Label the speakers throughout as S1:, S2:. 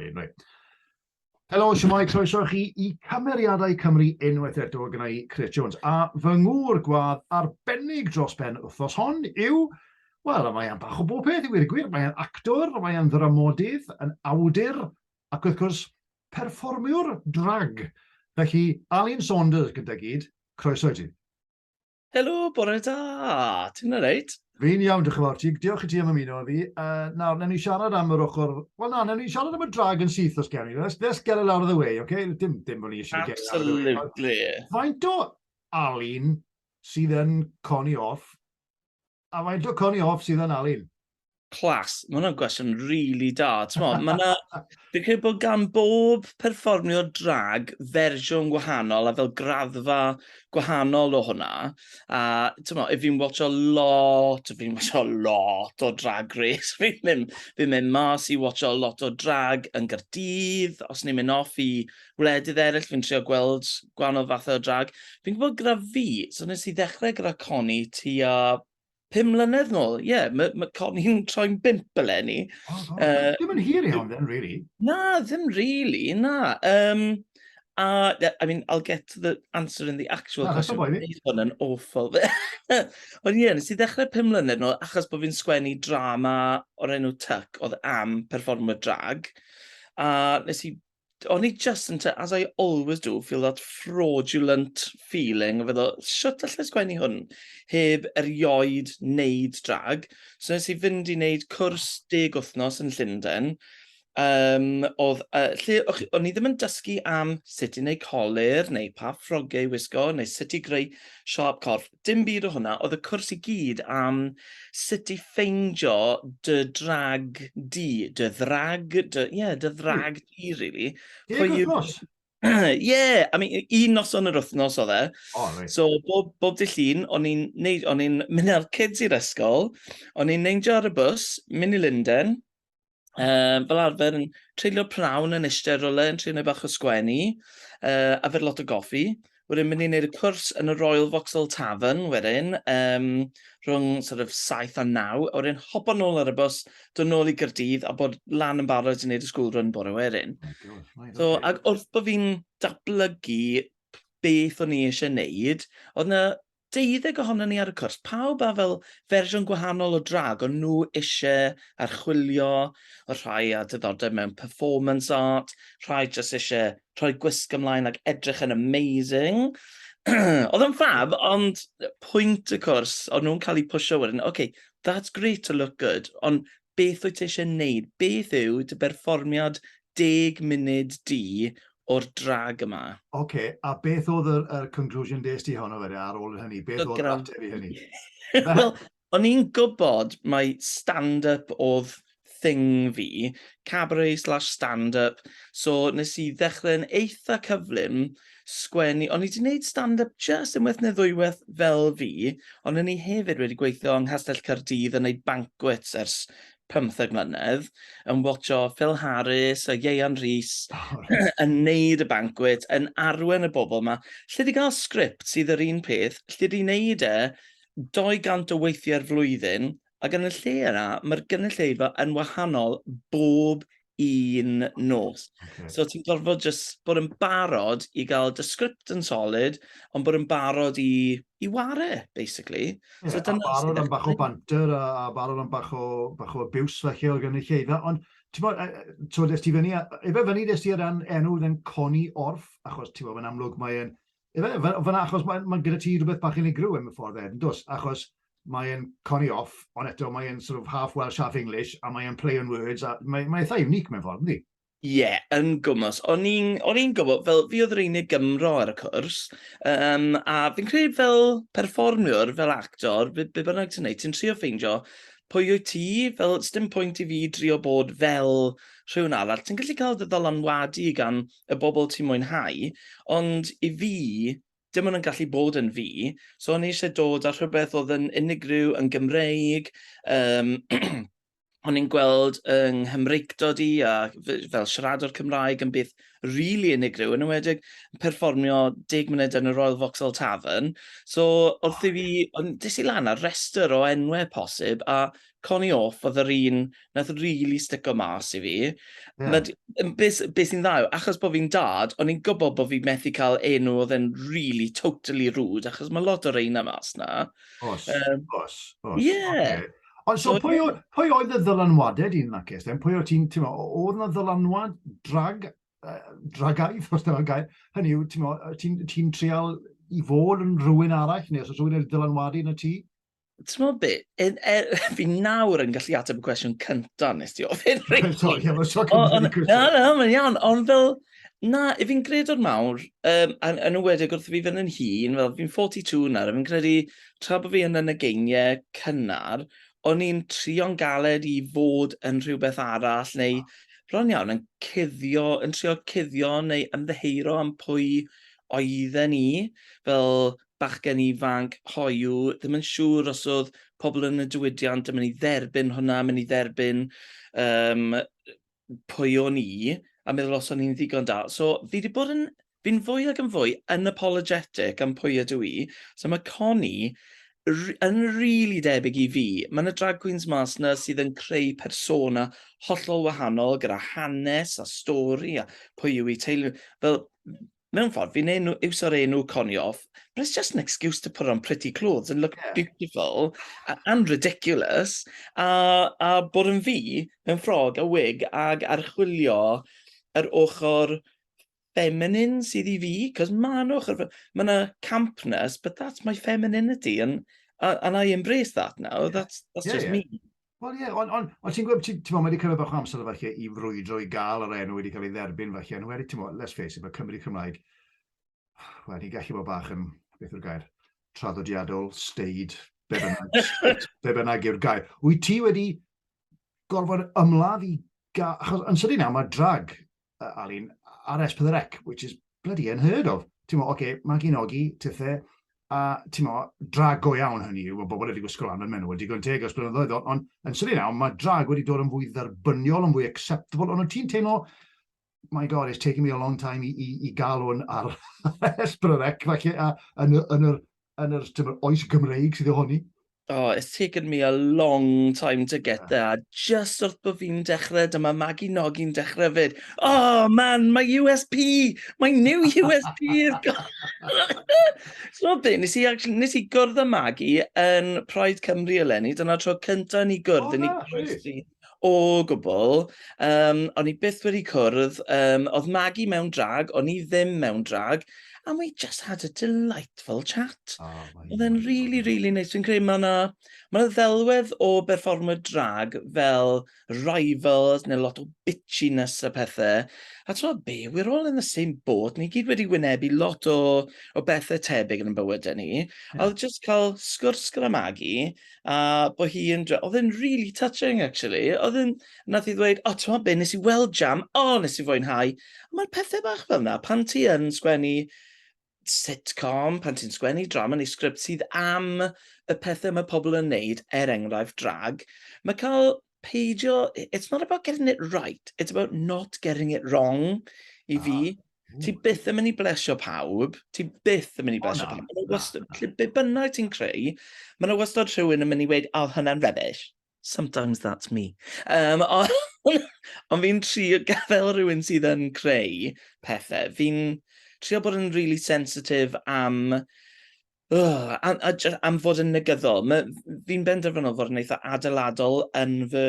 S1: Reit, reit. Helo, siwmai, croeso chi i Cymeriadau Cymru unwaith eto gyda i Chris Jones. A fy ngŵr gwadd arbennig dros ben wythnos hon yw... Wel, a mae e'n bach o bob peth i wir gwir. Mae e'n actor, mae e'n ddramodydd, yn awdur, ac wrth gwrs, perfformiwr drag. Felly, Alun Saunders gyda gyd, croeso i ti. Helo,
S2: bore da! Ti'n alright? Fi'n iawn, diolch yn fawr
S1: ti. Diolch i ti am ymuno â fi. Uh, nawr, newn ni siarad am yr ochr... Wel na, newn ni siarad am y drag yn syth os gewn ni. Let's, let's get it out of the way, okay? Dim, dim bod ni eisiau get it out of the way. Absolutely. Faint
S2: o
S1: Alun sydd yn coni off A faint o Connie Hoff sydd yn Alun? Clas. Mae
S2: hwnna'n gwestiwn really da. Mae yna... Fi'n credu bod gan bob perfformio drag fersiwn gwahanol a fel graddfa gwahanol o hwnna. A mo, if fi'n watcho lot, if fi'n watcho lot o drag race. Fi'n mynd, fi mynd mas i watcho lot o drag yn gyrdydd, os ni'n mynd off i gwledydd eraill, fi'n trio gweld gwahanol fathau o drag. Fi'n gwybod gyda fi, so nes i ddechrau gyda Connie tua pum mlynedd nôl. Ie, yeah, mae ma Connie'n troi'n bimp eleni. Oh, oh. Uh, Dim yn
S1: hir iawn, then, really. Na, ddim
S2: really, na. Um, a, I mean, I'll get to the answer in the actual na, question. Bydd hwn yn awful. Ond ie, yeah, nes i ddechrau pum mlynedd nôl, achos bod fi'n sgwennu drama o'r enw Tuck, oedd am performer drag. A nes i o'n i just yn, as I always do, feel that fraudulent feeling o feddwl, shwt allai sgwennu hwn heb erioed wneud drag. So nes i fynd i wneud cwrs deg wythnos yn Llundain, um, oedd, uh, lle o'n i ddim yn dysgu am sut i wneud colir, neu pa ffrogiau i wisgo, neu sut i greu siop corff. dim byd o hwnna, oedd y cwrs i gyd am sut i ffeindio dy drag di, dy ddrag, dy, ie, yeah, dy hmm. ddrag hmm. di, really. Ie, yeah,
S1: gwrthnos. Ie,
S2: yeah, I mean, un noson yr wythnos oedd e. Oh, right. So, bob,
S1: bob dy
S2: llun, o'n i'n mynd â'r kids i'r ysgol, o'n i'n neindio ar y bus, mynd i Linden, um, fel arfer yn treulio prawn yn eistedd rolau yn treulio bach o sgwennu, uh, a fer lot o goffi. Wedyn mynd i wneud y cwrs yn y Royal Vauxhall Tavern wedyn, um, rhwng sort of 7 a 9, a wedyn hopo nôl ar y bus, dod nôl i Gyrdydd a bod lan yn barod i wneud y school run bore wedyn. Oh, so, okay. ac wrth bod fi'n dablygu beth o'n i eisiau wneud, oedd yna deuddeg ohonon ni ar y cwrs, pawb â fel fersiwn gwahanol o drag o'n nhw isie archwilio, y rhai â diddordeb mewn performance art, rhai jyst isie rhoi gwisg ymlaen ac edrych yn amazing. Oedd o'n ffab, ond pwynt y cwrs, o'n nhw'n cael eu pwsio wedyn, ok, that's great to look good, ond beth wyt ti eisiau wneud? Beth yw dy berfformiad deg munud di o'r drag yma? Ok, a beth
S1: oedd yr, yr conclusion des di honno fe ar ôl hynny? Beth oedd yr ateb i hynny? Wel,
S2: o'n i'n gwybod mae stand-up oedd thing fi, cabaret slash stand-up, so nes i ddechrau'n eitha cyflym, sgwennu, o'n i 'di wneud stand-up jyst unwaith neu ddwywaith fel fi, ond o'n i hefyd wedi gweithio yng Nghastell Caerdydd yn wneud banquets ers pymtheg mlynedd, yn watcho Phil Harris a Ieuan Rhys yn wneud y banquets, yn arwen y bobl 'ma. Lle di gael sgript sydd yr un peth, lle di wneud e 200 o weithiau'r flwyddyn, Ac yn y lle yna, mae'r gynulleidfa yn wahanol bob un nos. Okay. So ti'n gorfod just bod yn barod i gael dy sgript yn solid, ond bod yn barod i, i ware, basically. Yeah, so, a barod
S1: am bach o banter, a, a barod am bach o, bach o abuse felly o'r gynulleidfa, ond ti'n bod, ti'n bod, esti fyny, efe fyny nes ti ar ran enw yn coni orff, achos ti'n bod, yn amlwg mae'n Efe, fan achos mae, mae gyda ti rhywbeth bach unigryw yn y ffordd ed, yn dos, achos mae'n coni off, ond eto mae'n sort of half Welsh, half English, a mae'n play on words, a mae'n mae eitha unique mewn ffordd, ynddi? Ie, yeah, yn
S2: gwmwys. O'n i'n gwybod, fel fi oedd yr unig Gymro ar y cwrs, um, a fi'n credu fel perfformiwr, fel actor, be, be bynnag ti'n neud, ti'n trio ffeindio pwy wyt ti, fel stym pwynt i fi drio bod fel rhywun arall. Ti'n gallu cael dy ddylanwadu gan y bobl ti'n mwynhau, ond i fi, dim ond yn gallu bod yn fi, so o'n i eisiau dod â rhywbeth oedd yn unigryw, yn Gymreig, um, o'n i'n gweld yng Nghymreictod i a fel siaradwr Cymraeg yn beth rili really unigryw, yn ymwedig yn perfformio deg munud yn y Royal Vauxhall Tavern. So, wrth i fi, ond des i lan ar restr o enwau posib, a Connie Orff oedd yr un nath rili stico mas i fi. Ie. Nad-
S1: yn be' s- be' sy'n
S2: dda yw achos bo' fi'n dad o'n i'n gwbo bo' fi methu ca'l enw oedd e'n rili totally rude achos ma' lot o reina mas 'na. O's. Yym.
S1: O's. O's. Ie.
S2: Ocê. Ond so So
S1: pwy o- pwy oedd y ddylanwade di yn that case then? Pwy o' ti'n t'mo' o- o'dd 'na ddylanwad drag yy dragaidd os dyna'r gair? Hynny yw t'mo' yy ti'n ti'n trial i fod yn rhywun arall neu os o's rhywun wedi dylanwadu arnot ti? T'mod be'?
S2: Yn er fi nawr yn gallu ateb y cwestiwn cynta nes ti ofyn rili. Sori, am y tro cynta
S1: fi'n cwestiwn. Na, na, mae'n iawn, ond
S2: fel, na, i fi'n gredwr mawr, um, yn, yn ywedig wrth fi fynd yn hun, fel fi'n 42 nawr, a fi'n credu tra bod fi yn y negeiniau cynnar, o'n i'n trio'n galed i fod yn rhywbeth arall, neu bron iawn, yn cuddio, yn trio cuddio neu ymddeheiro am pwy oedden ni, fel bachgen ifanc hoyw, ddim yn siŵr os oedd pobl yn y diwydiant yn mynd i dderbyn hwnna, mynd i dderbyn um, pwy o'n i, a meddwl os o'n i'n ddigon da. So fi wedi bod yn, fi'n fwy ag yn fwy yn apologetic am pwy ydw i. So mae Connie yn rili really debyg i fi. Mae yna drag queens mas yna sydd yn creu persona hollol wahanol gyda hanes a stori a pwy yw i teulu. Fel, mewn ffordd, fi'n enw, iwso'r enw coniof, but it's just an excuse to put on pretty clothes and look yeah. beautiful and ridiculous, a, a bod yn fi mewn ffrog a wig ag archwilio yr ochr feminine sydd i fi, cos mae yna ochr, mae yna campness, but that's my femininity, and, and I embrace that now, yeah. that's, that's yeah, just yeah. me. Wel ie, ond on,
S1: on, ti'n gwybod, ti'n gwybod, mae wedi cymryd bach o amser falle i frwydro i gael yr enw wedi cael ei dderbyn falle, ond wedi, ti'n gwybod, let's face it, mae Cymru Cymraeg, wel, ni'n gallu bod bach yn, beth yw'r gair, traddodiadol, steid, be bynnag, be bynnag yw'r gair. Wyt ti wedi gorfod ymladd i gael, achos yn sydyn nawr mae drag uh, Alun, ar S4C, which is bloody unheard of. Ti'n mo, oce, okay, mae gen ogi, tithe, a ti'n mo, drag go iawn hynny yw, mae bobl wedi gwisgo lan yn menw, wedi gwneud teg os blynyddoedd, ond on, yn syni nawr, mae drag wedi dod yn fwy dderbyniol, yn fwy acceptable, ond ti'n teimlo, my god, it's taking me a long time i, i, i gael hwn ar S4C, falle, a, yn, yn, yn, yn yr tymor oes Gymreig sydd ohoni. Oh, it's taken
S2: me a long time to get ah. there. Just wrth bod fi'n dechrau, dyma Maggie Noggi'n dechrau fyd. Oh man, my USP! My new USP is gone! so be, nes i, actually, nes i gwrdd â Maggie yn Pride Cymru eleni. Dyna tro cyntaf ni gwrdd oh, yn ei O gwbl, yym o'n i byth wedi cwrdd, yym oedd Maggie mewn drag, o'n i ddim mewn drag, and we just had a delightful chat. Oh my Oedd e'n rili God. rili neis, fi'n credu ma' 'na ma' 'na ddelwedd o berfformio drag fel rivals neu lot o bitchiness a pethe a t'mod be, we're all in the same boat, ni gyd wedi wynebu lot o o bethe tebyg yn 'yn bywyde ni. Ie. A oedd jyst cael sgwrs gyda Maggie a bod hi yn... Oedd e'n really touching, actually. Oedd e'n... Nath i ddweud, o, oh, ti'n be, nes i weld jam, o, oh, nes i fwynhau. Mae'r pethau bach fel yna, pan ti yn sgwennu sitcom, pan ti'n sgwennu drama neu sgript sydd am y pethau mae pobl yn neud, er enghraifft drag, mae cael peidio, it's not about getting it right, it's about not getting it wrong i fi. Ah. Ti byth yn mynd i blesio pawb, ti byth yn mynd i blesio pawb. Mae'n wastad, lle be bynnag ti'n creu, mae'n wastad rhywun yn mynd i weid, oh, hwnna'n rubbish. Sometimes that's me. Um, ond on fi'n trio gadael rhywun sydd yn creu pethau. Fi'n trio bod yn really sensitive am Ugh, a a jy- am fod yn negyddol. Ma- f- fi'n benderfynol fod yn eitha adeiladol yn fy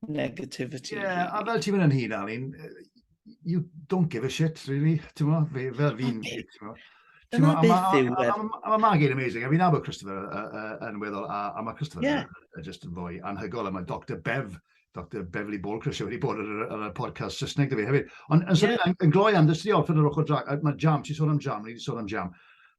S2: negativity Ie, a rili. fel ti'n
S1: mynd yn hyd, Alun, yy, you don't give a shit, really, ti'n mo? Fe- Fel fi'n... Ie. ti'n mo? Ti'n Dyna
S2: mo, a beth ma- yw a- e. a- a- a Mae Maggie'n amazing,
S1: a fi'n nabod Christopher yy, yy, yn weddol, a a mae Christopher Ie. yn- yn just yn fwy anhygol, a mae Dr Bev Dr Beverly Bolker sydd wedi bod ar y, ar y podcast Saesneg dy fi hefyd. Ond yn yeah. yn gloi am ddysgu orffen yr ochr drag, mae jam, ti'n sôn am jam, ni wedi sôn am jam.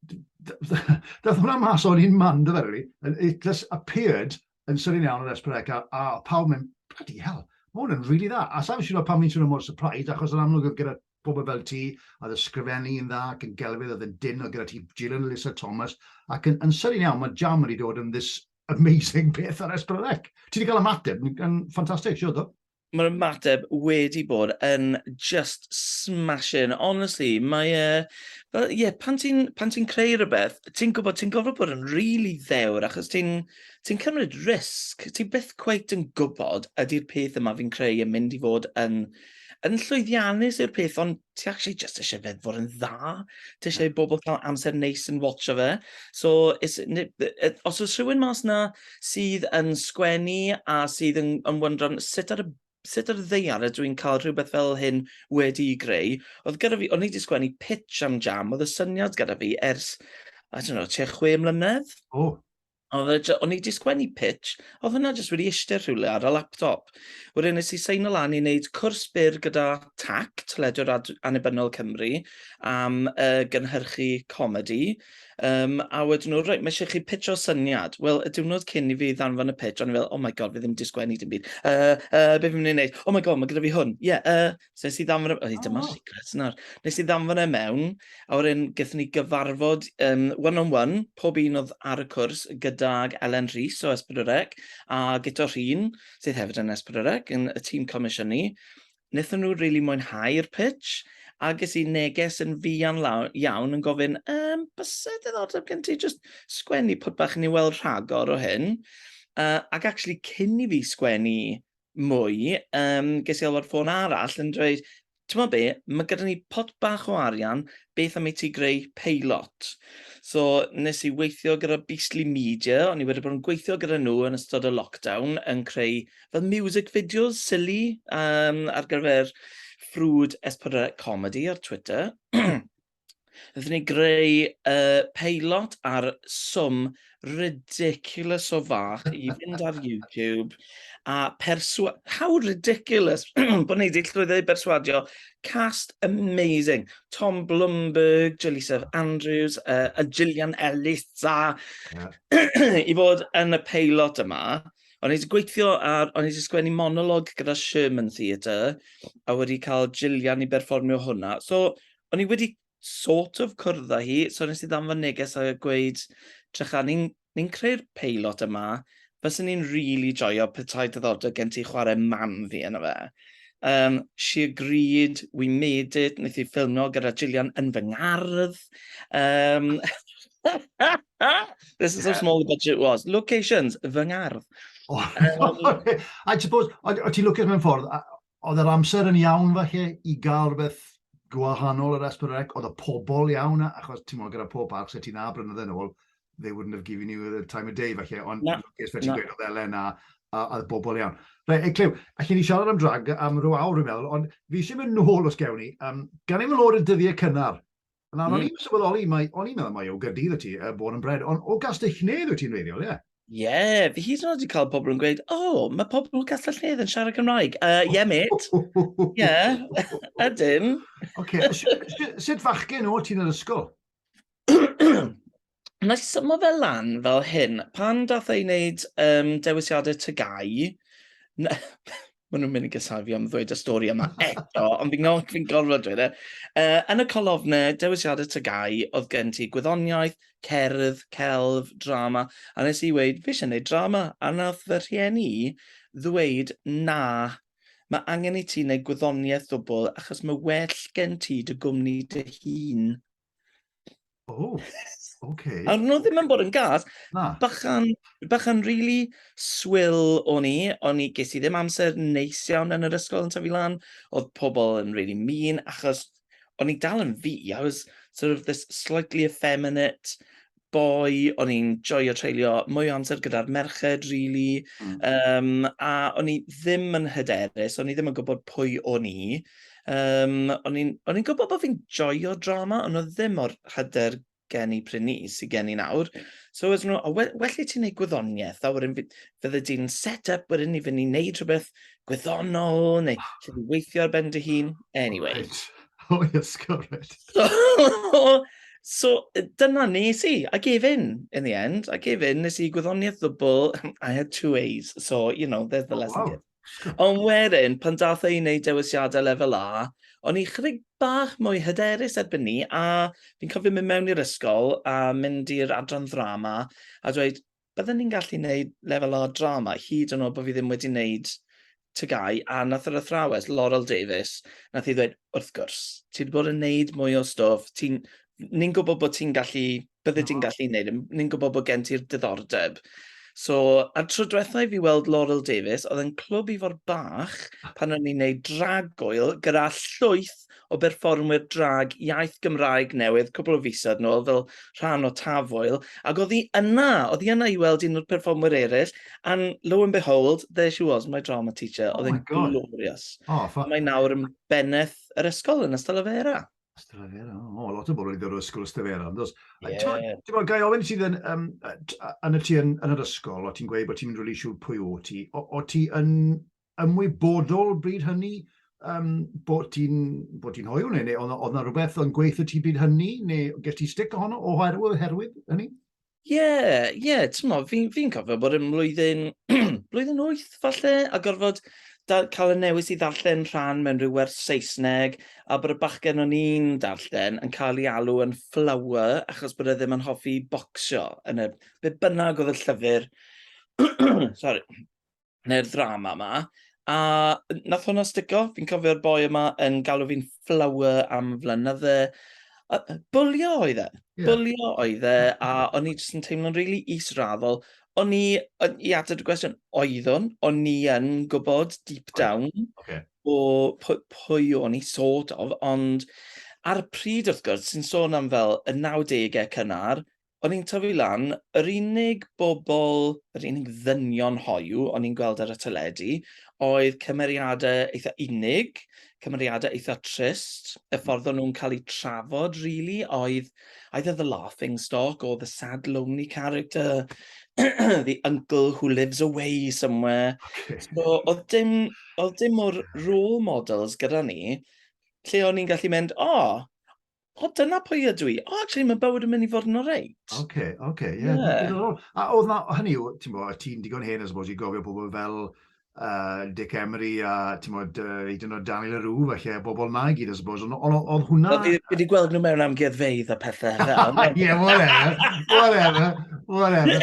S1: Dath hwnna mas o'n un man, dy ferri, it just appeared yn sylun iawn o'r Esperec a, a pawb mynd, bloody hell, mae hwn yn rili really dda. A sa'n siŵr pam ni'n swnio mor surprised, achos yn amlwg oedd gyda Pobl fel ti, oedd yn sgrifennu yn dda ac yn gelfydd, oedd yn dyn, oedd gyda ti Gillan a Lisa Thomas, ac yn, yn sydyn iawn, mae Jam wedi dod yn this amazing beth ar Esbrelec. Ti wedi cael ymateb yn ffantastig, siwr do? Mae'r
S2: ymateb wedi bod yn just smashing, honestly, mae e, fel, ie, yeah, pan ti'n ti creu rhywbeth, ti'n gwybod, ti'n gofod bod yn really ddewr, achos ti'n ti cymryd risg, ti byth cweit yn gwybod ydy'r peth yma fi'n creu yn mynd i fod yn Yn llwyddiannus yw'r peth ond ti actually jyst isie fe fod yn dda. Ti isie i bobl cael amser neis yn watsio fe. So it's ni- yy yy os oes rhywun mas 'na sydd yn sgwennu a sydd yn yn wyndran sut ar y sut ar y ddaear ydw i'n cael rhywbeth fel hyn wedi'i greu oedd gyda fi o'n i 'di sgwennu pitch am Jam oedd y syniad gyda fi ers I don't know tua chwe mlynedd. O!
S1: Oedd o'n i
S2: di sgwennu pitch, oedd hwnna jyst wedi eistedd rhywle ar y laptop. Wedyn nes i seino lan i wneud cwrs byr gyda TAC, Teledu Annibynnol Cymru, am uh, gynhyrchu comedi. Um, a wedyn nhw, reit, mae eisiau chi pitch o syniad. Wel, y diwrnod cyn i fi ddanfon y pitch, o'n i fel, oh my god, fi ddim wedi sgwennu dim byd. Uh, uh, be fi'n mynd i wneud? Oh my god, mae gyda fi hwn. Ie, yeah, uh, So wnes i ddanfon... e- O, oh. dyma'r secret nawr. Wnes i ddanfon e mewn, a wedyn gyda ni gyfarfod um, one-on-one, pob un oedd ar y cwrs gydag Ellen Rhys o Esbrydorec, a Guto Rhyn, sydd hefyd yn Esbrydorec, yn y tîm comisiwn ni. Nethon nhw rili really mwynhau'r pitch, a ges i neges yn fuan iawn yn gofyn, um, bysau diddordeb gen ti just sgwennu pwt bach i ni weld rhagor o hyn. Uh, ac actually, cyn i fi sgwennu mwy, um, ges i alw ar ffôn arall yn dweud, ti'n meddwl be, mae gyda ni pot bach o arian, beth am i ti greu peilot? So, nes i weithio gyda Beastly Media, o'n i wedi bod yn gweithio gyda nhw yn ystod y lockdown, yn creu fel music videos, silly, um, ar gyfer ffrwd S4C Comedy ar Twitter. Nath ni greu uh, peilot ar swm ridiculous o fach i fynd ar YouTube a perswa... How ridiculous bod ni wedi llwyddo i berswadio cast amazing. Tom Blumberg, Jaleesa Andrews uh, a Gillian Ellis a yeah. i fod yn y peilot yma. O'n i wedi gweithio ar, o'n i wedi sgwennu monolog gyda Sherman Theatre a wedi cael Gillian i berfformio hwnna. So, o'n i wedi sort of cwrdd â hi, so nes i ddam fy neges a gweud, Trycha, ni'n ni creu'r peilot yma, fyswn ni'n rili really joio petai diddordeb gen ti chwarae mam fi yna fe. Um, she agreed, we made it, wnaeth i ffilmio gyda Gillian yn fy ngardd. Um, this is how small the budget was. Locations, fy ngardd. Oh, um,
S1: I suppose, o ti'n lwcus mewn ffordd, oedd yr amser yn iawn falle i gael rhywbeth gwahanol yr Esbyrrec, oedd y pobl iawn, achos ti'n mwyn gyda pob parc, sef ti'n na brynyddoedd yn ôl, they wouldn't have given you the time of day falle, ond yn lwcus fe ti'n gweud oedd Elen a, a, a bobl iawn. Rhe, e, clyw, a chi ni siarad am drag am rhyw awr fi'n meddwl, ond fi eisiau mynd nôl os gewn ni, um, gan ei fy lod y dyddiau cynnar, Na, mm. o'n i'n sylweddoli, mae, o'n i'n meddwl mai o Gyrdydd y ti, uh, Born and Bred, ond o Gastellnedd wyt ti'n reiddiol, ie? Yeah? Ie, yeah, fi hyd yn
S2: oed wedi cael pobl yn gweud, o, oh, mae pobl o Gastellnedd yn siarad Cymraeg. Ie, uh, yeah, mate. Ie, yeah. ydyn. Oce,
S1: okay. sut fachgen o ti'n yr ysgol?
S2: wna i symo fe lan fel hyn. Pan dath ei wneud um, dewisiadau tygau, maen nhw'n mynd i gysau fi am ddweud y stori yma eto, ond fi'n gofod, fi gorfod dweud e. Uh, yn y colofne, dewisiadau tygau, oedd gen ti gwyddoniaeth, cerdd, celf, drama, a nes i weid, fi eisiau gwneud drama, a nath fy rhieni ddweud, na, mae angen i ti wneud gwyddoniaeth ddwbl, achos mae well gen ti dy gwmni dy hun. O,
S1: ok. A nhw ddim yn bod yn
S2: gas. Na. Bachan, bachan really swill o'n i, o'n i ges i ddim amser neis iawn yn yr ysgol yn tyfu lan. Oedd pobl yn really mean, achos o'n i dal yn fi. I was sort of this slightly effeminate boi, o'n i'n joio treulio mwy o amser gyda'r merched, rili. Mm. Um, a o'n i ddim yn hyderus, o'n i ddim yn gwybod pwy o'n i. Um, o'n i'n gwybod bod fi'n joio drama, ond oedd ddim o'r hyder gen i pryn ni, sy'n gen i nawr. So, oes nhw, well, well i ti'n gwneud gwyddoniaeth, a wedyn fydde ti'n set up wedyn i fynd i wneud rhywbeth gwyddonol, neu lle dwi'n weithio ar ben dy hun. Anyway. Right. O, oh, yes,
S1: correct. So, so,
S2: dyna nes i. I gave in, in the end. I gave in, nes i gwyddoniaeth ddwbl. I had two A's, so, you know, there's the oh, lesson. Wow. Ond wedyn, pan dath ei wneud dewisiadau lefel A, o'n i chydig bach mwy hyderus erbyn ni, a fi'n cofio mynd mewn i'r ysgol a mynd i'r adran ddrama a dweud, bydden ni'n gallu gwneud lefel o drama hyd yn oed bod fi ddim wedi gwneud tygau a nath yr athrawes Laurel Davies nath i ddweud wrth gwrs ti wedi bod yn gwneud mwy o stwff ti'n ni'n gwybod bod ti'n gallu bydde ti'n gallu gwneud e, ni'n gwybod bod gen ti'r diddordeb so a'r tro diwetha i fi weld Laurel Davies oedd yn clwb i fod bach pan o'n i'n gwneud dragwyl gyda llwyth o berfformwyr drag iaith Gymraeg newydd cwpl o fisoedd nôl fel rhan o Tafwyl, ac oedd hi yna, oedd hi yna i weld un o'r perfformwyr eraill, and lo and behold, there she was, my drama teacher, oh oedd hi'n glorious. Oh, for... Mae nawr yn bennaeth yr ysgol yn Ystalyfera. Ystalyfera, o,
S1: oh, lot o bobl wedi dod o'r ysgol Ystalyfera, ond os... Yeah. Ti'n bod, gai ofyn sydd yn, um, yn y ti yn, yn yr ysgol, o ti'n gweud bod ti'n mynd rili siŵr pwy o ti, o, o ti yn ymwybodol bryd hynny um, bod ti'n bod ti'n hoiw neu, neu oedd yna rhywbeth yn gweithio ti bryd hynny neu ges ti stick ohono o oherwydd, oherwydd hynny? Ie, yeah, ie,
S2: yeah, ti'n mo, fi'n fi cofio bod yn mlwyddyn, blwyddyn wyth falle, a gorfod da, cael y newis i ddarllen rhan mewn rhyw werth Saesneg, a bod y bachgen o'n i'n darllen yn cael ei alw yn flower, achos bod e ddim yn hoffi bocsio, yn y, be bynnag oedd y llyfr, sorry, neu'r ddrama yma, a nath hwnna stico. Fi'n cofio'r boi yma yn galw fi'n flower am flynydde. Bwlio oedd e. Yeah. Bwlio oedd e, a o'n i jyst yn teimlo'n rili really israddol. O'n i, i ateb y gwestiwn, oeddwn, o'n i yn gwybod deep down okay. o pwy, pwy o'n i sort of, ond ar y pryd wrth gwrs, sy'n sôn am fel y 90au cynnar, o'n i'n tyfu lan, yr unig bobl, yr unig ddynion hoyw o'n i'n gweld ar y teledu oedd cymeriadau eitha unig, cymeriadau eitha trist, y hmm. ffordd o'n nhw'n cael eu trafod, really, oedd either the laughing stock or the sad, lonely character, the uncle who lives away somewhere. Okay. So, oedd dim, oedd dim o'r role models gyda ni, lle o'n i'n gallu mynd, o, oh, O, dyna pwy ydw i. O, actually, mae bywyd yn mynd i fod yn oreit. Oce, okay, oce, okay, ie. Yeah. Yeah.
S1: A oedd na, hynny yw, ti'n bo, ti'n digon hen, I suppose, i gofio pobl fel uh, Dick Emery a, ti'n bo, uh, i dyn o Daniel Arw, felly, a bobl na i gyd, I suppose, ond oedd hwnna... Fi wedi gweld nhw mewn
S2: amgueddfeidd a pethau. Ie, whatever,
S1: whatever, whatever.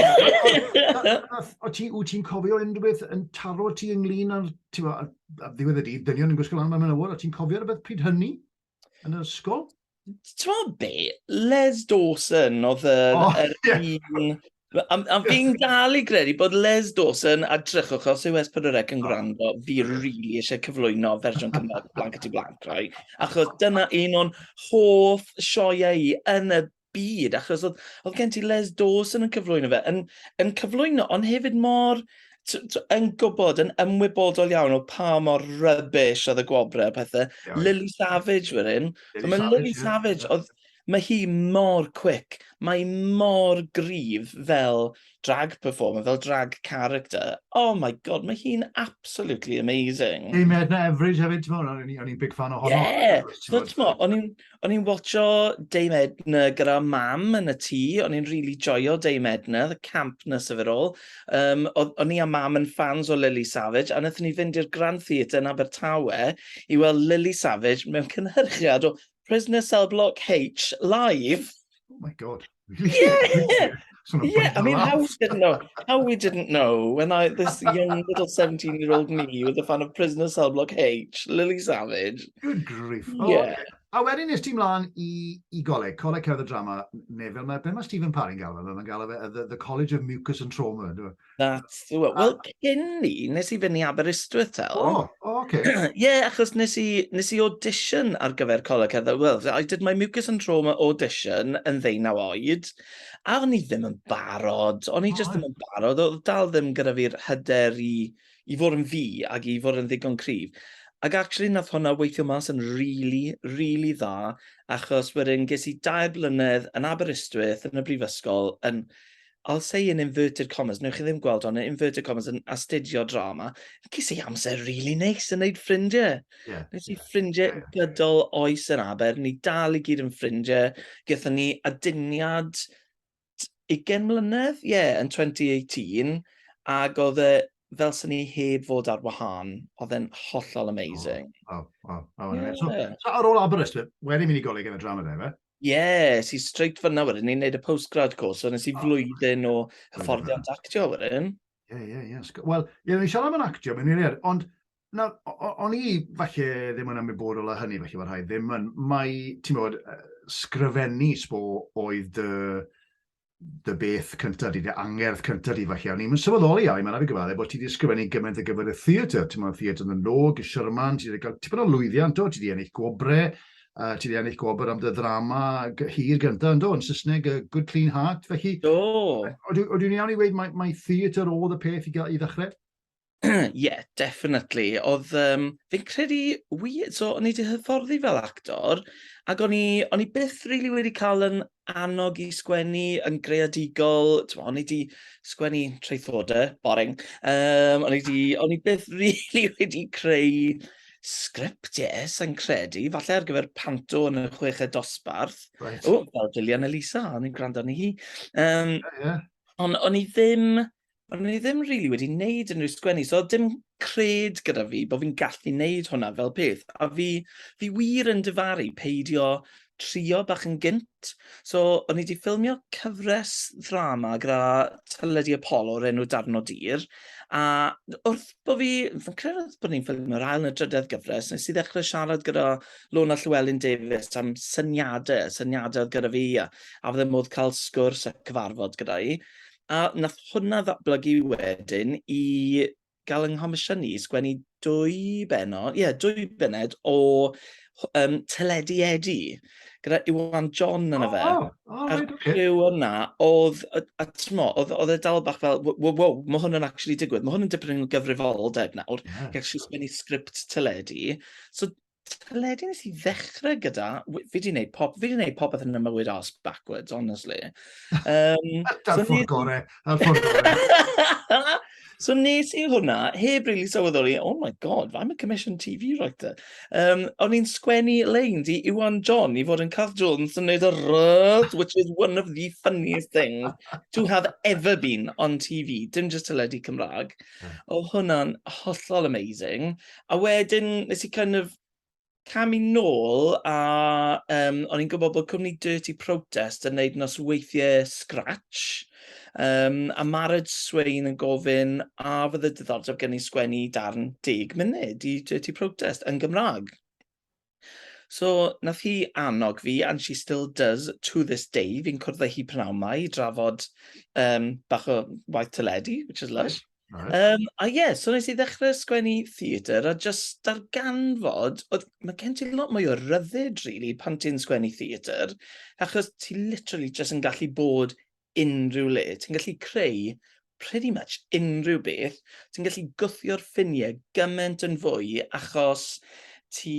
S1: O ti'n cofio unrhyw beth yn taro ti ynglyn â'r, ti'n bo, ddiwedd y dydd, dynion yn gwisgo lan mewn awr, o ti'n cofio rhywbeth pryd hynny? Yn yr ysgol? Ti'n be?
S2: Les Dawson oedd yr... Oh, er, yeah. un... A, a fi'n dal i gredu bod Les Dawson a drychwch os yw Espadorec yn gwrando, fi rili really eisiau cyflwyno fersiwn Cymraeg Blanket i Blanc, right? Achos dyna un o'n hoff sioeau i yn y byd, achos oedd, oedd gen ti Les Dawson yn cyflwyno fe, yn, yn cyflwyno, ond hefyd mor yn gwybod, yn ymwybodol iawn o pa mor rybys oedd y gwobrau a pethau. Yeah, Lily Savage fyr hyn. Lily, mae Savage, Lily Savage, oedd, mae hi mor quick, mae mor gryf fel drag performer, fel drag character. Oh my god, mae hi'n absolutely amazing. Hey, mae Edna Everage
S1: hefyd, ti'n meddwl, o'n i'n big fan o honno. Yeah, ti'n meddwl, o'n i'n... O'n i'n
S2: watcho Dame Edna gyda mam yn y tŷ, o'n i'n really joio Dame Edna, the campness of it all. Um, o'n i a mam yn fans o Lily Savage, a wnaethon ni fynd i'r Grand Theatre yn Abertawe i weld Lily Savage mewn cynhyrchiad o Prisoner Cell Block H live. Oh my god.
S1: Yeah! Yeah,
S2: I mean, how we didn't know, how we didn't know when I, this young little seventeen year old me was a fan of Prisoner Cell Block H, Lily Savage... Good grief!
S1: Yeah. O ocê. A wedyn es ti mlaen i i goleg, Coleg Cerdd a Drama, neu fel mae, be mae Stephen Parry'n galw fe, mae'n galw fe y the the College of Mucus and Trauma, yndyw e? That's the one. Wel,
S2: cyn ni, nes i fynd i Aberystwyth, Tel. O, o, oce. Ie, achos nes i, nes i audition ar gyfer Coleg Cerdded Wales. I did my mucus and trauma audition yn ddeunaw oed, a o'n i ddim yn barod. O'n i just ddim yn barod. Oedd dal ddim gyda fi'r hyder i, i fod yn fi ac i fod yn ddigon cryf. Ac actually, nath hwnna weithio mas yn really, really dda, achos wedyn ges i dair blynedd yn Aberystwyth, yn y brifysgol, yn I'll say in inverted commas, wnewch chi ddim gweld hon, yn inverted commas, yn astudio drama, ges i amser really neis yn neud ffrindiau. Yeah. Nes i ffrindiau yeah. gydol oes yn aber, ni dal i gyd yn ffrindiau. Gyda ni aduniad 20 mlynedd, ie, yeah, yn 2018, ac oedd e fel sy'n ni heb fod ar wahân, oedd e'n hollol amazing. Oh, oh,
S1: oh, oh, yeah. so, so, ar ôl Aberystwyth, wedi mynd i goleg yn y drama dde, fe? Ie, es i straight fanna
S2: wedyn, ni'n neud y postgrad course, so nes i flwyddyn o hyfforddiant actio
S1: wedyn. Ie, ie, ie. Wel,
S2: ie, ni'n
S1: siarad am yn actio, mae'n wir,
S2: ond
S1: na, o'n i falle ddim yn ymwybodol o hynny, falle bod rhaid ddim yn, mae, ti'n bod, sgrifennu sbo oedd dy, dy beth cyntaf di, dy angerdd cyntaf di falle. O'n i'n sylweddoli Alun, mae'n rhaid i gyfaddau, bod ti wedi ysgrifennu gymaint ar gyfer y theatr. Ti'n meddwl theatr yn y log, y Sherman, ti wedi cael tipyn o lwyddiant do, ti wedi ennill gwobrau, uh, ti wedi ennill gwobr am dy ddrama hir gyntaf yn do, yn Saesneg, uh, Good Clean Heart, felly... Do!
S2: Oedw i'n iawn i weid,
S1: mae, mae theatr oedd y peth i, i ddechrau? yeah,
S2: definitely. Oedd, um, fi'n credu, weird, so o'n i wedi hyfforddi fel actor, ac o'n i, o'n i byth rili really wedi cael yn annog i sgwennu yn greadigol, o'n i wedi sgwennu traethodau, boring, um, o'n i wedi, o'n i byth rili really wedi creu sgript, yes, yn credu, falle ar gyfer panto yn y chweched dosbarth. Right. O, fel
S1: Gillian Elisa,
S2: o'n i'n gwrando ni hi. Um, yeah, yeah.
S1: Ond o'n i
S2: ddim, O'n i ddim rili wedi wneud unrhyw sgwennu, so oedd dim cred gyda fi bod fi'n gallu wneud hwnna fel peth. A fi, fi wir yn difaru peidio trio bach yn gynt. So, o'n i wedi ffilmio cyfres ddrama gyda Teledu Apollo o'r enw Darn o Dir. A wrth bod fi, fi'n credu oedd bod ni'n ffilmio'r ail neu drydedd gyfres, nes i ddechrau siarad gyda Lona Llewellyn Davies am syniadau, syniadau oedd gyda fi, a, a fydde modd cael sgwrs a cyfarfod gyda i. A wnaeth hwnna ddatblygu wedyn i gael yng nghomisiynu i sgwennu dwy bennod, ie, dwy bennod o um, Teledu Edu, gyda Iwan John yn y fe. Oh, oh, A'r right, okay. criw yna,
S1: oedd,
S2: a, a tmo, oedd, oedd e dal bach fel, wow, wow, mae hwn yn actually digwydd, mae hwn yn dipyn o gyfrifoldeb nawr, yeah. gallu sgwennu
S1: sgript
S2: teledu. So, Teledu wnes i ddechrau gyda, w- fi 'di wneud pop- fi 'di wneud popeth yn fy mywyd arse backwards, honestly. Yym, Dyna'r
S1: so ffordd nes- gorau, dyna'r ffordd gorau.
S2: so nes i hwnna, heb rili sylweddoli, oh my god, I'm a commissioned TV writer. Um, o'n i'n sgwennu leins i Iwan John i fod yn Cath Jones yn neud y rrrth, which is one of the funniest things to have ever been on TV, dim just teledu Cymraeg. O hwnna'n hollol amazing. A wedyn nes i kind of camu nôl a um, o'n i'n gwybod bod cwmni Dirty Protest yn neud nos weithiau scratch. Um, a Marad Swain yn gofyn a fydd y diddordeb gen i sgwennu darn deg munud i Dirty Protest yn Gymraeg. So, nath hi annog fi and she still does to this day, fi'n cwrdd â hi pnawn 'ma i drafod um, bach o waith teledu, which is lush. Right. Um, a ie,
S1: yeah, so nes i
S2: ddechrau sgwennu theatr a just darganfod, oedd, mae gen ti lot mwy o ryddid, really, pan ti'n sgwennu theatr, achos ti literally just yn gallu bod unrhyw le, ti'n gallu creu pretty much unrhyw beth, ti'n gallu gwthio'r ffiniau gymaint yn fwy achos ti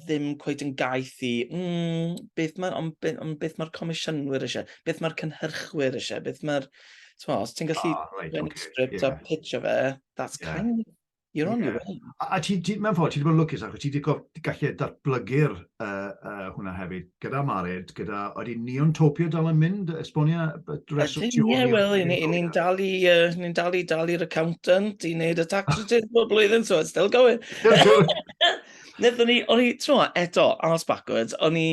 S2: ddim cweith yn gaeth i, mm, beth mae'r on, be, on, beth mae'r comisiynwyr eisiau, beth mae'r cynhyrchwyr eisiau, beth mae'r... Os ti'n gallu oh, right, okay, script yeah. a pitch o fe, that's yeah. kind of You're on your own. A, a ti, ti, mewn ffordd,
S1: ti wedi bod yn lwcus achos ti wedi gallu datblygu'r uh, uh, hwnna hefyd, gyda Mared, gyda, oeddi Neon Topia dal yn mynd, esbonia dresol ti Ie,
S2: wel, i ni'n dal i, uh, ni'n dal i dal i'r accountant, i wneud y tax returns bob blwyddyn, so it's still going. Nethon ni, o'n i, tro, eto, arms backwards, o'n i,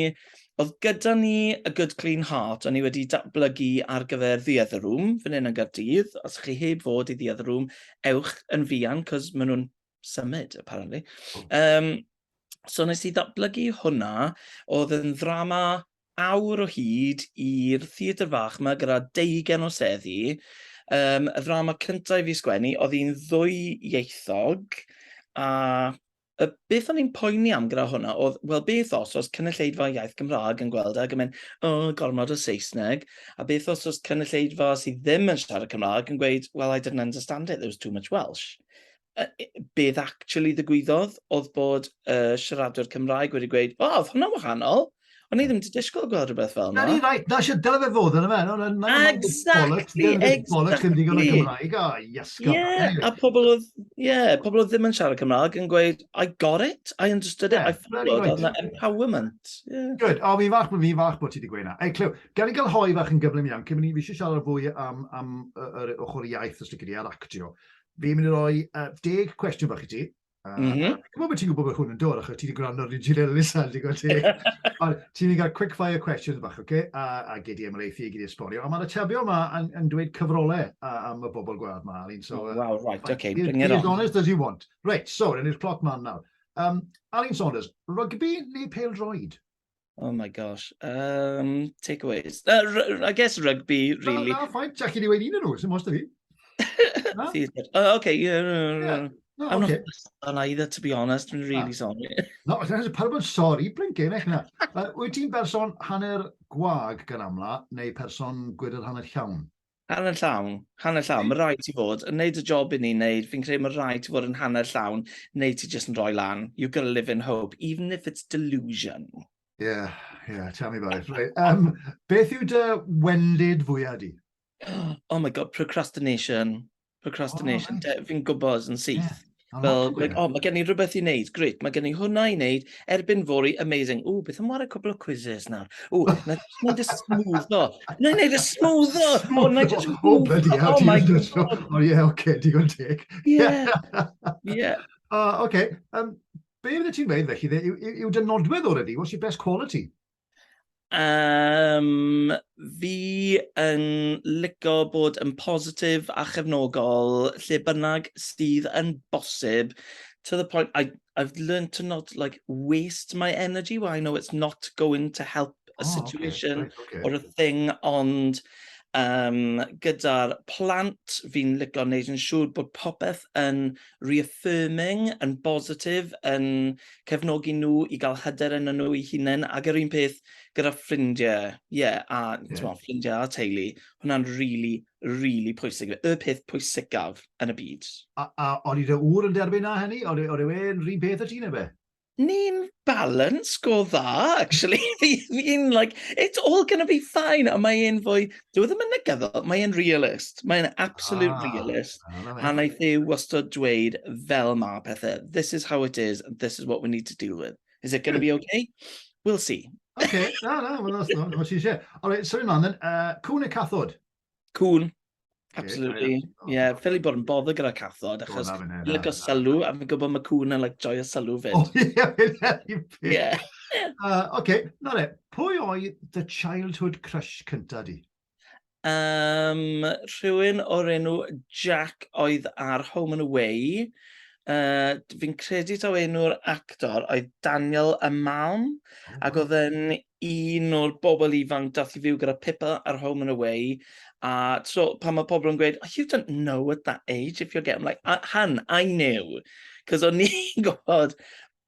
S2: oedd gyda ni y Good Clean Heart, o'n i wedi datblygu ar gyfer The Other Room, fan hyn yn Gardydd. Os chi heb fod i The Other Room, ewch yn fuan, cos maen nhw'n symud, apparently. Um, so nes i ddatblygu hwnna, oedd yn ddrama awr o hyd i'r theatr fach yma gyda deugen o seddi. Um, y ddrama cyntaf i fi sgwennu, oedd hi'n ddwy ieithog, a Y beth o'n i'n poeni am gyda hwnna oedd, wel beth os oes cynulleidfa iaith Gymraeg yn gweld ag yn mynd, o, gormod o Saesneg, a beth os oes cynulleidfa sydd ddim yn siarad Cymraeg yn gweud, well, I didn't understand it, there was too much Welsh. Uh, beth actually ddigwyddodd oedd bod y uh, siaradwr Cymraeg wedi gweud, o, oedd hwnna'n wahanol, O'n i ddim wedi disgwyl gweld rhywbeth fel yna. Na, ni, right. Na, sy'n dyle fe
S1: fod yn y fe. No, no, exactly, exactly.
S2: Bollocks ddim
S1: digon o Gymraeg. O, iasgo. Yeah, a pobl
S2: oedd, yeah, pobl oedd ddim yn siarad Cymraeg yn gweud, I got it, I understood it, yeah, I followed, right. oedd empowerment. Yeah. Good, o, fi'n
S1: fach, fi'n fach bod ti wedi gweud na. Ei, clyw, gan i gael hoi fach yn gyflym iawn, cyn mynd i fi eisiau siarad fwy am, am yr ochr iaith os ti'n gyda a'r actio. Fi'n mynd i roi uh, deg cwestiwn fach i ti, A, mm -hmm.
S2: a gwybod bod ti'n gwybod bod
S1: hwn yn dod, achos ti wedi gwrando ar Richard Ellis a wedi gweld teg. Ond ti'n mynd gael quick fire questions bach, oce? Okay? A, a gyd i ymreithi, gyd i esbonio. A mae'r atebion yma yn, yn dweud cyfrolau a, am y bobl gwad yma, Alun. So, oh, wow, right, oce, okay,
S2: bring it on. As honest as you
S1: want. Right, so, rhan i'r cloc man nawr. Um, Alun Saunders, rygbi neu pel droed? Oh my
S2: gosh. Um, takeaways. Uh, I guess rugby, really. Na, na, ffain. Jack i ni wedi
S1: un yn nhw, sy'n most o fi. oh, okay, yeah, no, no, no. Yeah.
S2: No, I'm okay.
S1: not on
S2: either, to
S1: be
S2: honest. I'm really ah. sorry. No, that's pawb
S1: yn sorry, blincyn, eich na. Uh, wyt ti'n berson hanner gwag gan amla, neu person gwydr hanner llawn? Hanner llawn,
S2: hanner llawn. Mae rhaid ti fod yn neud y job i ni'n neud. Fi'n credu mae rhaid ti fod yn hanner llawn neu ti jyst yn rhoi lan. You've got to live in hope, even if it's delusion. Yeah,
S1: yeah, tell me about it. Right. Um, beth yw dy wendid fwyaf di? Oh my god,
S2: procrastination. Procrastination. Oh, right. Fi'n gwybod
S1: yn syth.
S2: Yeah. Fel, like,
S1: oh, mae
S2: gen i rhywbeth i wneud, grit, mae gen i hwnna i wneud, erbyn fori, amazing. O, beth am wario cwbl o quizzes nawr? O, na wneud y smwddo. Na wneud y smwddo! O, na just... O, bloody hell, ti'n mynd
S1: O,
S2: ie, oce, digon
S1: teg. Ie, ie. O,
S2: oce.
S1: Be fydde ti'n dweud, felly, yw dy nodwedd o'r ydi? What's your best quality? Um,
S2: fi yn licio bod yn positif a chefnogol lle bynnag sydd yn bosib to the point I, I've learned to not like waste my energy where I know it's not going to help a oh, situation okay, right, okay. or a thing ond um, gyda'r plant fi'n licio wneud yn siŵr bod popeth yn reaffirming yn bositif yn cefnogi nhw i gael hyder yn nhw i hunain ac yr un peth gyda ffrindiau, ie, yeah, a yeah. Mo, ffrindiau a teulu, hwnna'n rili, really, rili really pwysig, y peth pwysicaf yn y byd. A, a o'r i'r
S1: ŵr yn derbyn na hynny? O'r i'r e'n rhywun peth y ti neu be? Ni'n
S2: balance go dda, actually. Fi'n like, it's all gonna be fine. Ond mae e'n fwy, dyw e ddim yn negyddol, mae e'n realist. Mae e'n absolute ah, realist. A naeth e wastad dweud fel ma pethau. This is how it is, and this is what we need to deal with. Is it gonna be hmm. okay? We'll see. Okay, na, na,
S1: mae'n os na, mae'n sy'n siarad. Alright, sorry man, then, uh, cwn y cathod. Cŵn.
S2: Absolutely. Ie, yeah, yeah. ffili bod yn bodd gyda cathod, achos fi'n lygo sylw, a fi'n gwybod mae cŵn yn like, joio sylw fyd. O,
S1: ie, ie.
S2: Oce,
S1: na le, pwy oedd the childhood crush cynta di? Um,
S2: rhywun o'r enw Jack oedd ar Home and Away. Uh, fi'n credu taw enw'r actor oedd Daniel Amalm, oh. ac oedd yn un o'r bobl ifanc dath i fyw gyda Pippa ar Home and Away, a so pan mae pobl yn gweud, oh, you don't know at that age if you're getting, like, a, han, I knew. Cos o'n i'n gwybod,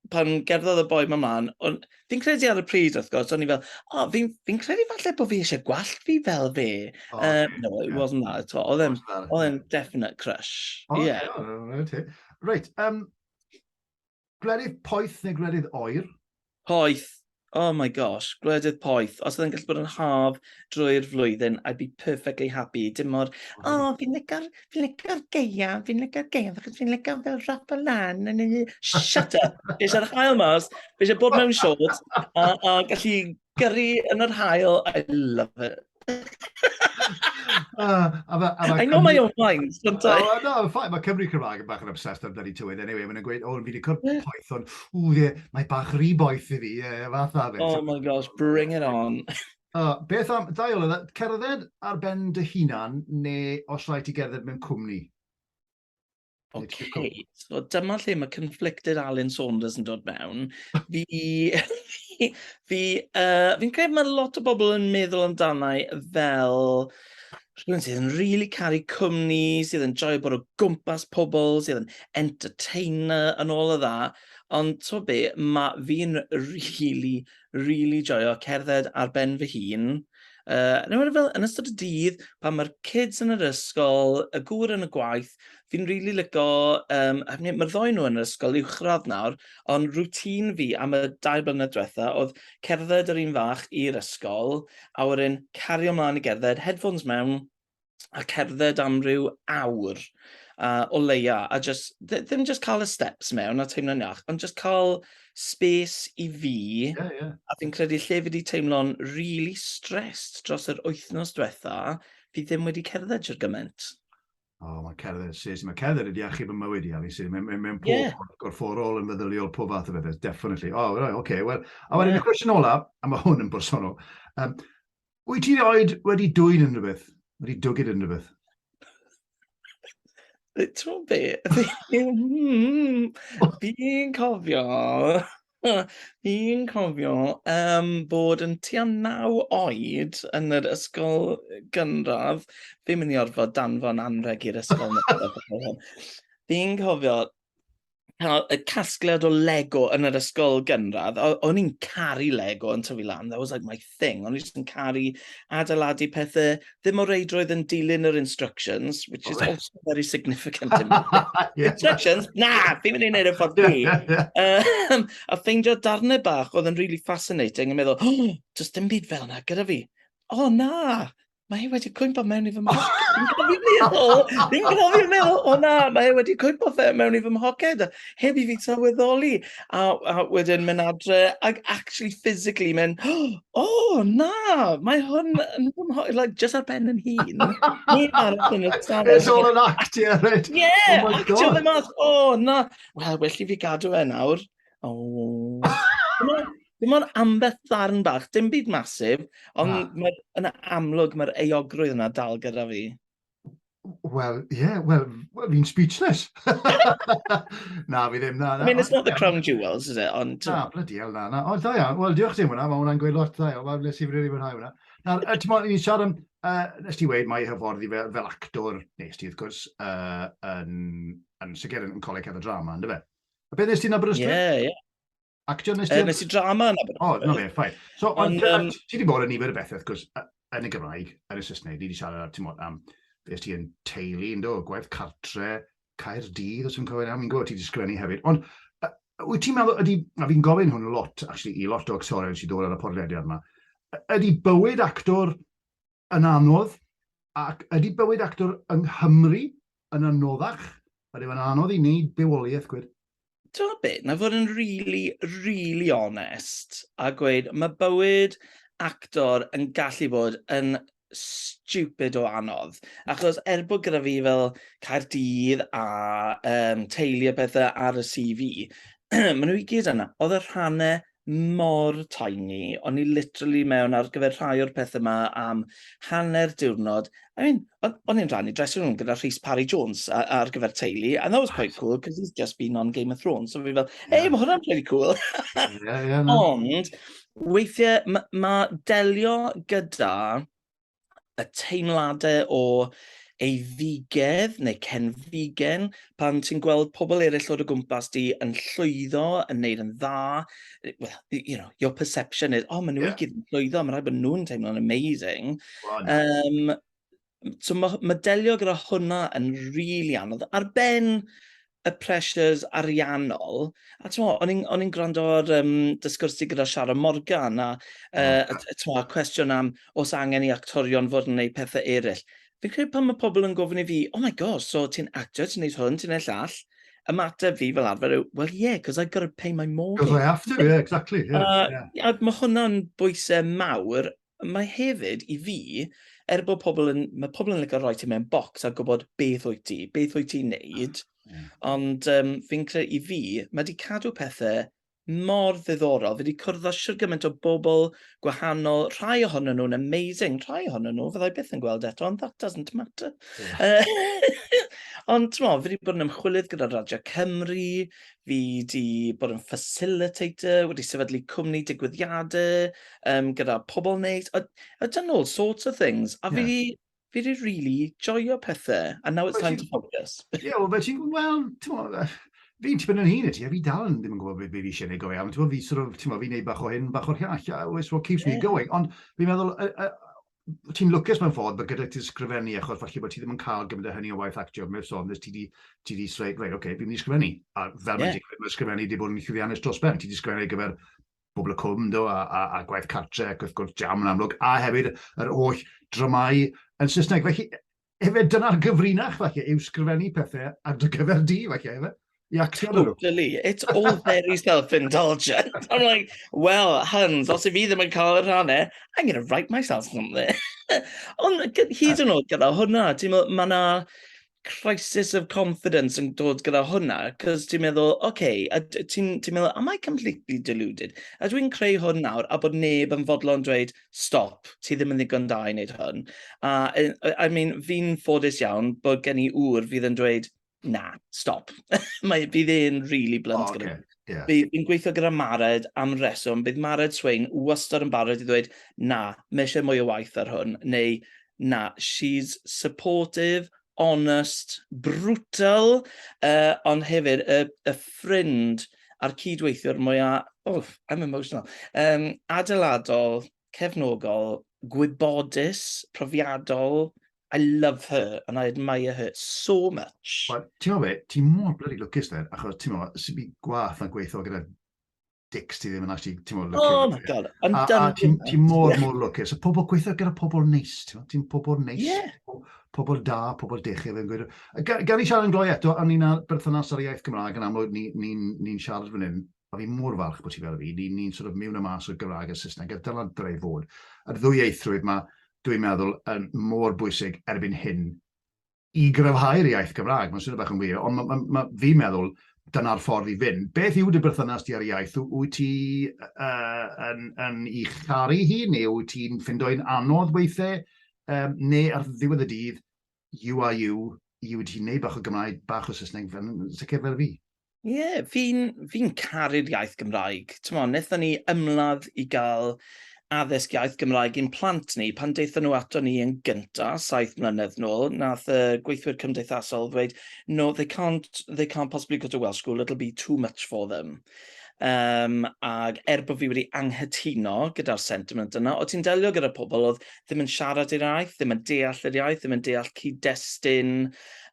S2: pan gerddodd y boi ma mlaen, o'n... fi'n credu ar y pryd wrth gwrs, o'n i fel, oh, fi'n fi credu falle bod fi eisiau gwallt fi fel fe. Oh, uh, no, it yeah. wasn't that at all. Oedd e'n, oedd e'n definite crush. Oh, yeah. yeah.
S1: Right, um, Gwledydd poeth neu gwledydd oer? Poeth.
S2: Oh my gosh, gwledydd poeth. Os oedd yn gallu bod yn haf drwy'r flwyddyn, I'd be perfectly happy. Dim mor, o, oh, fi'n liga'r fi liga geia, fi'n liga'r geia, achos fi'n liga fel rap o lan. Yn y... Shut up! Fi eisiau'r hael mas, fi eisiau bod mewn siod a, a gallu Gyrru yn yr hael, I love it. uh, a ma, a ma I know my own mind, don't I? Oh, no, I'm fine. Mae Cymru
S1: Cymraeg yn bach yn obsessed â'r bloody tywydd. Anyway, mae'n gweud, oh, fi wedi cwrdd yeah. poeth, ond, ww, ie, mae bach rhy boeth i fi, ie, yeah, fath a fe. Oh my gosh, bring
S2: it on. Uh, beth am,
S1: da iawn, cerdded ar ben dy hunan, neu os rhaid ti gerdded mewn cwmni? Ok,
S2: so dyma lle mae conflicted Alun Saunders yn dod mewn. Fi... fi... yy, fi'n credu mae lot o bobl yn meddwl amdana i fel rhywun sydd yn rili caru cwmni, sydd yn joio bod o gwmpas pobl, sydd yn entertainer yn ôl y dda. Ond t'mo' be', ma' fi'n rili rili joio cerdded ar ben fy hun, uh, yn enwedig fel yn ystod y dydd, pan mae'r kids yn yr ysgol, y gŵr yn y gwaith, fi'n rili really lico, um, mae'r ddoi nhw yn yr ysgol uwchradd nawr, ond rŵtín fi am y dau blynedd diwetha oedd cerdded yr un fach i'r ysgol, a wedyn cario mlaen i gerdded, headphones mewn, a cerdded am ryw awr uh, o leia, a just, ddim just cael y steps mewn a teimlo'n iach, ond just cael space i fi, yeah, yeah. a fi'n credu lle fi wedi teimlo'n really stressed dros yr wythnos diwetha, fi ddim wedi cerdded i'r gymaint. O, oh,
S1: mae cerdded, sis, mae cerdded wedi achub y mywyd i, Alice. Mae'n mae, mae pob yeah. gorfforol
S2: yn
S1: feddyliol, pob fath o bethau, definitely. O, oh, right, okay, well. A wedyn yeah. y cwestiwn olaf, a mae
S2: hwn
S1: yn bersonol, um, Wyt ti oed wedi dwyn yn rhywbeth? Wedi dwgyd yn rhywbeth?
S2: Ti'n be? Hmm, fi'n cofio... fi'n cofio yym bod yn tua naw oed yn yr ysgol gynradd. Fi'n mynd i orfod danfon anrheg i'r ysgol nawr . Fi'n cofio cael y casgliad o Lego yn yr ysgol gynradd. O'n i'n caru Lego yn tyfu lan, that was like my thing. O'n i'n caru adeiladu pethau, ddim o reidrwydd yn dilyn yr instructions, which is also very significant in my yeah. Instructions? Na, fi'n mynd i'n neud y ffordd fi. Um, a ffeindio darnau bach oedd yn really fascinating, yn meddwl, oh, just dim byd fel yna gyda fi. O oh, na, mae hi wedi cwympo mewn i fy mhoced. Fi'n cofio meddwl, fi'n cofio meddwl, o na, mae hi wedi cwympo fe mewn i fy mhoced. Heb i fi sylweddoli. A, a wedyn mynd adre, ac actually physically mynd, o na, mae hwn yn fy mhoced. Like, just ar ben yn hun. Neb arall yn y stafell. It's all an act, yeah,
S1: right. Yeah, oh actio fe
S2: mas.
S1: O na.
S2: Wel, well i fi gadw fe nawr. Oh. Dim ond ambell ddarn bach, dim byd masif, ond mae, yna amlwg mae'r eogrwydd yna dal gyda fi.
S1: Wel, ie, yeah, wel, fi'n speechless. na, fi ddim, na, na. I mean, it's not the crown
S2: jewels, is it? Ond... Na, bloody hell, na, na.
S1: O, da iawn, wel, diolch ti am hwnna, mae hwnna'n gweud lot da iawn, wel, nes i rili fwynhau hwnna. Na, ti'n modd, ni'n siarad am, uh, nes ti weid, mae hyffordd i fel, fel actor, nes ti, wrth gwrs, uh, yn, yn sicr yn coleg hefyd drama, ynddo fe? A beth nes ti'n Aberystwyth? Ie, ie.
S2: Actio nes ti'n...
S1: nes i drama yn Aberystwyth. O,
S2: no fe, ffain. So,
S1: ond um, ti wedi bod yn nifer y bethau, wrth gwrs, yn y Gymraeg, yn y Saesneg, ni wedi siarad, ti'n modd, am, beth ti'n teulu, ynddo, gwaith cartre, cair dydd, os yw'n cofio nawr, mi'n gwybod, ti wedi sgrennu hefyd. Ond, wyt ti'n meddwl, ydy, a fi'n gofyn hwn lot, actually, i lot o actorion sy'n dod ar y podlediad yma, ydy bywyd actor yn anodd, ac ydy bywyd actor yng Nghymru yn anoddach? Ydy fe'n anodd i wneud bywoliaeth gwir? Timod be, na
S2: fod yn rili, rili onest a gweud, mae bywyd actor yn gallu bod yn stupid o anodd, achos er bod gyda fi fel Caerdydd a um, teulu a pethau ar y CV, maen nhw i gyd yna. Oedd y rhannau mor tiny, o'n i literally mewn ar gyfer rhai o'r pethau yma am hanner diwrnod. I mean, o'n i'n rhannu dressing room gyda Rhys Parry Jones ar gyfer teulu, and that was quite cool, because he's just been on Game of Thrones, so fi fel, yeah. ei, mae hwnna'n pretty cool. yeah, yeah, no. Ond, weithiau, mae ma delio gyda y teimladau o eiddigedd neu cenfigen pan ti'n gweld pobl eraill o'r o gwmpas di yn llwyddo, yn neud yn dda, well, you know, your perception is, oh, maen nhw yeah. i gyd yn llwyddo, mae'n rhaid bod nhw'n teimlo'n amazing. Well, no. um, so mae ma delio gyda hwnna yn rili really anodd. Ar ben y pressures ariannol, a t'mo', o'n i'n o'n i'n gwrando ar um, dy sgwrs di gyda Sharon Morgan, a uh, t'mo', cwestiwn am os angen i actorion fod yn gwneud pethau eraill. Fi'n credu pan mae pobl yn gofyn i fi, oh my god, so ti'n actor, ti'n neud hwn, ti'n neud llall, ymateb fi fel arfer yw, well yeah, because I've got to pay my mortgage. Because I have to, yeah, exactly.
S1: Yeah, uh, yeah. A mae
S2: hwnna'n bwysau mawr, Mae hefyd, i fi, er bod pobl yn, mae pobl yn licio rhoi ti mewn bocs a gwybod beth wyt ti, beth wyt ti'n neud, mm. ond um, fi'n credu i fi, mae wedi cadw pethau mor ddiddorol. Fi wedi cwrdd â siwr gymaint o bobl gwahanol, rhai ohonyn nhw'n amazing, rhai ohonyn nhw fyddai byth yn gweld eto, ond that doesn't matter. Yeah. ond ti'n mo, fi wedi bod yn ymchwilydd gyda Radio Cymru, Fi 'di bod yn facilitator, wedi sefydlu cwmni digwyddiadau um, gyda pobl neis. I, I've done all sorts of things. A yeah. fi, fi wedi really joio pethau. And now it's well, time to focus. Ie, yeah, well, ti'n gwybod, wel, ti'n gwybod,
S1: fi'n tipyn yn hun i ti, a fi dal yn ddim yn gwybod beth fi eisiau gwneud go iawn. Ti'n gwybod, fi sort of, ti'n gwybod, fi'n gwneud bach o hyn, bach o'r llall, which what keeps yeah. me going. Ond fi'n meddwl, uh, uh, ti'n lwcus mewn ffordd bod gyda ti sgrifennu, achos falle bod ti ddim yn cael gymaint o hynny o waith actio, mewn sôn, nes ti di, ti di sreid, rei, oce, okay, fi'n mynd i sgrifennu. A fel yeah. mae mae sgrifennu wedi bod yn llwyddiannus dros ben, ti di sgrifennu ar gyfer bobl y cwm, do, a, a, a gwaith cartre, ac wrth gwrs jam yn amlwg, a hefyd yr holl dramau yn Saesneg. Felly, Efe, dyna'r gyfrinach, falle, yw sgrifennu pethau ar dy gyfer di, falle, efe? I actio nhw. Totally.
S2: It's all very self-indulgent. I'm like, well, huns, os i fi ddim yn cael y rhannau, I'm going to write myself something. Ond hyd yn oed gyda hwnna, ti'n meddwl, mae yna crisis of confidence yn dod gyda hwnna, cos ti'n meddwl, oce, okay, ti'n ti meddwl, am I completely deluded? A dwi'n creu hwn nawr, a bod neb yn fodlon dweud, stop, ti ddim yn ddigon da i wneud hwn. A, e, I mean, fi'n ffodus iawn bod gen i ŵr fydd yn dweud, na, stop. Mae, bydd e'n really blunt oh, okay. Yeah. Bydd yn gweithio
S1: gyda
S2: Mared am reswm. Bydd Mared Swain wastad yn barod i ddweud, na, mae eisiau mwy o waith ar hwn. Neu, na, she's supportive, honest, brutal, uh, ond hefyd y, y ffrind a'r cydweithiwr mwya, oh, I'm emotional, um, adeiladol, cefnogol, gwybodus, profiadol, I love her and I admire her so much. Ti'n meddwl fe, ti
S1: mor bloody lwcus then, achos ti'n meddwl, sy'n byd gwaith na gweithio gyda dicks, ti ddim yn actually, ti'n mwyn, lwcus. Oh my god, I'm
S2: a, done. A ti'n ti
S1: mor, mor lwcus. A pobl gweithio gyda pobl neis, ti'n ti pobl neis, yeah. pobl
S2: da,
S1: pobl dechau, fe'n gweud. Gan i siarad yn gloi eto, a ni'n berthynas ar y iaith Gymraeg yn amlwg, ni'n ni, ni, ni siarad fan hyn, a fi mor falch bod ti fel fi, ni'n ni, ni sort of miwn y mas o'r Gymraeg a Saesneg, a dyna dre i fod. A'r ddwy eithrwydd mae, dwi'n meddwl, yn mor bwysig erbyn hyn i gryfhau'r iaith Gymraeg. Mae'n swnio bach yn wir, ond mae, mae, mae fi'n meddwl dyna'r ffordd i fynd. Beth yw dy berthynas ti ar iaith? Wyt ti uh, yn, yn i charu hi, neu wyt ti'n ffindoi'n anodd weithiau, um, neu ar ddiwedd y dydd, you are you, i wedi ti'n neud bach o Gymraeg, bach o Saesneg, fel, sicr fel fi. Ie, yeah, fi'n
S2: fi caru'r iaith Gymraeg. T'mo, wnaethon ni ymladd i gael addysg iaith Gymraeg i'n plant ni pan daethon nhw ato ni yn gynta, saith mlynedd nôl, nath y gweithwyr cymdeithasol ddweud, no, they can't, they can't possibly go to Welsh school, it'll be too much for them. Um, ac er bod fi wedi anghytuno gyda'r sentiment yna, o ti'n delio gyda pobl oedd ddim yn siarad yr iaith, ddim yn deall yr iaith, ddim yn deall cyd-destun,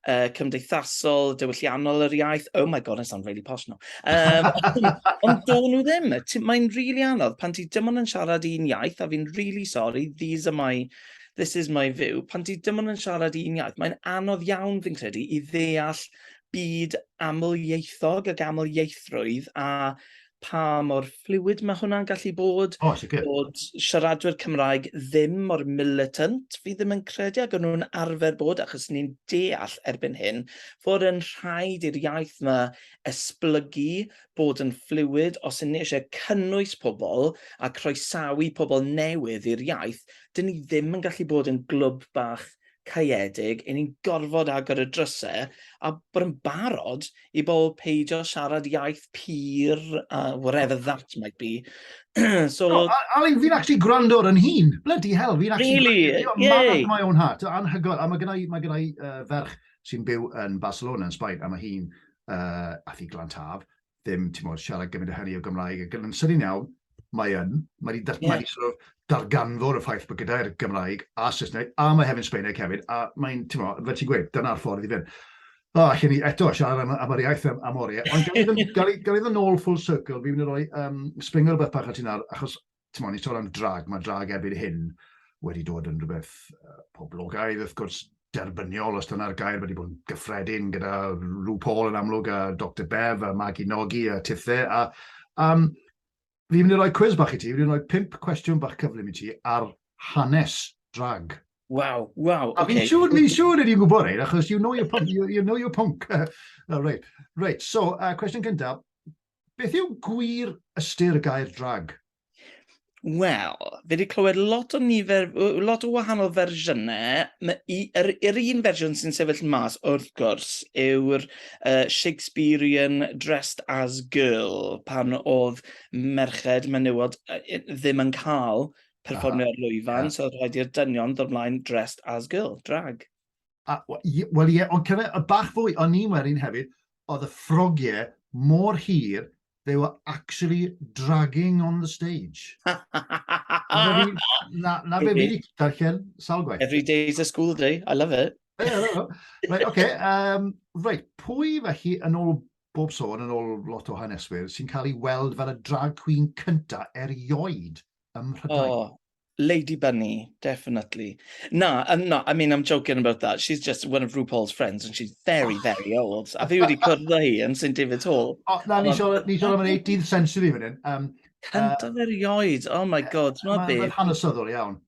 S2: uh, cymdeithasol, diwylliannol yr iaith. Oh my god, I sound really posh now. Um, ond do nhw ddim. Mae'n rili really anodd pan ti dim ond yn siarad un iaith, a fi'n rili really sorry, these are my this is my view, pan ti dim ond yn siarad un iaith, mae'n anodd iawn fi'n credu i ddeall byd amlieithog ac amlieithrwydd a pa mor fluid mae hwnna'n gallu bod. O, sicr. Bod siaradwyr Cymraeg ddim mor militant, fi ddim yn credu, ac o'n nhw'n arfer bod, achos ni'n deall erbyn hyn, fod yn rhaid i'r iaith yma esblygu, bod yn fluid, os yn ni eisiau cynnwys pobl a croesawu pobl newydd i'r iaith, dyn ni ddim yn gallu bod yn glwb bach caeedig, 'y ni'n gorfod agor y drysau a bod yn barod i bobl peidio siarad iaith pur a whatever that might be. so, no,
S1: Ali, fi'n actually gwrando ar yn hun. Bloody hell, fi'n actually... Really? Gwrando, yeah. my
S2: own heart.
S1: Anhygoel. A mae gennau, mae gennau uh, ferch sy'n byw yn Barcelona, yn Sbaen, a mae hi'n uh, athi glan taf, ddim, ti'n modd, siarad gymaint o hynny o Gymraeg, ac yn ymsynnu'n iawn, mae yn, mae wedi yeah. mae sort of darganfod y ffaith bod gyda'r Gymraeg a Saesneg, a mae hefyd Sbaeneg hefyd, a mae'n, ti'n modd, fel ti'n gweud, dyna'r ffordd i fynd. O, oh, allan ni eto siarad am, am yr iaith am, am oriau, ond gael iddyn nhw'n ôl full circle, fi'n mynd i roi um, springer beth bach at hynna, achos ti'n mwyn, ni'n sôn am drag, mae drag erbyn hyn wedi dod yn rhywbeth uh, poblogaidd, wrth gwrs, derbyniol, os dyna'r gair, wedi bod yn gyffredin gyda Rhw Paul yn amlwg, a Dr Bev, a Maggie Nogi, a Tithe, a um, fi wedi rhoi cwiz bach i ti, fi wedi rhoi pimp cwestiwn bach cyflym i ti ar hanes drag. Waw,
S2: waw. A fi'n siŵr,
S1: fi'n siŵr
S2: ydy'n
S1: gwybod ein, achos you know your punk, you, you know your punk. uh, right, right, so, uh, cwestiwn cyntaf, beth yw gwir ystyr y gair drag?
S2: Wel, fi wedi clywed lot o nifer, lot o wahanol fersiynau. Yr, yr un fersiwn sy'n sefyll mas, wrth gwrs, yw'r uh, Shakespearean Dressed as Girl, pan oedd merched menywod ddim yn cael perfformio'r lwyfan, so rhaid i'r dynion ddod mlaen dressed as girl, drag. A,
S1: wel ie, ond cyfe, y bach fwy, o'n ni'n werin hefyd, oedd y ffrogiau mor hir, they were actually dragging on the stage. na, na fe fi darllen sawl gwaith. Every day is a school day,
S2: I love it. right,
S1: okay, um, right, pwy felly yn ôl bob sôn, yn ôl lot o haneswyr, sy'n cael ei weld fel y drag queen cynta erioed ym Mhrydain? Oh, Lady Bunny,
S2: definitely. Na, I'm not, I mean, I'm joking about that. She's just one of RuPaul's friends and she's very, oh. very old. A fi wedi cwrdd â hi yn St David's Hall. O, na, ni siol
S1: am yr 18th century fan hyn. Um, Cyntaf
S2: uh, erioed, oh my
S1: god,
S2: ma be. Mae'n hanesyddol
S1: iawn.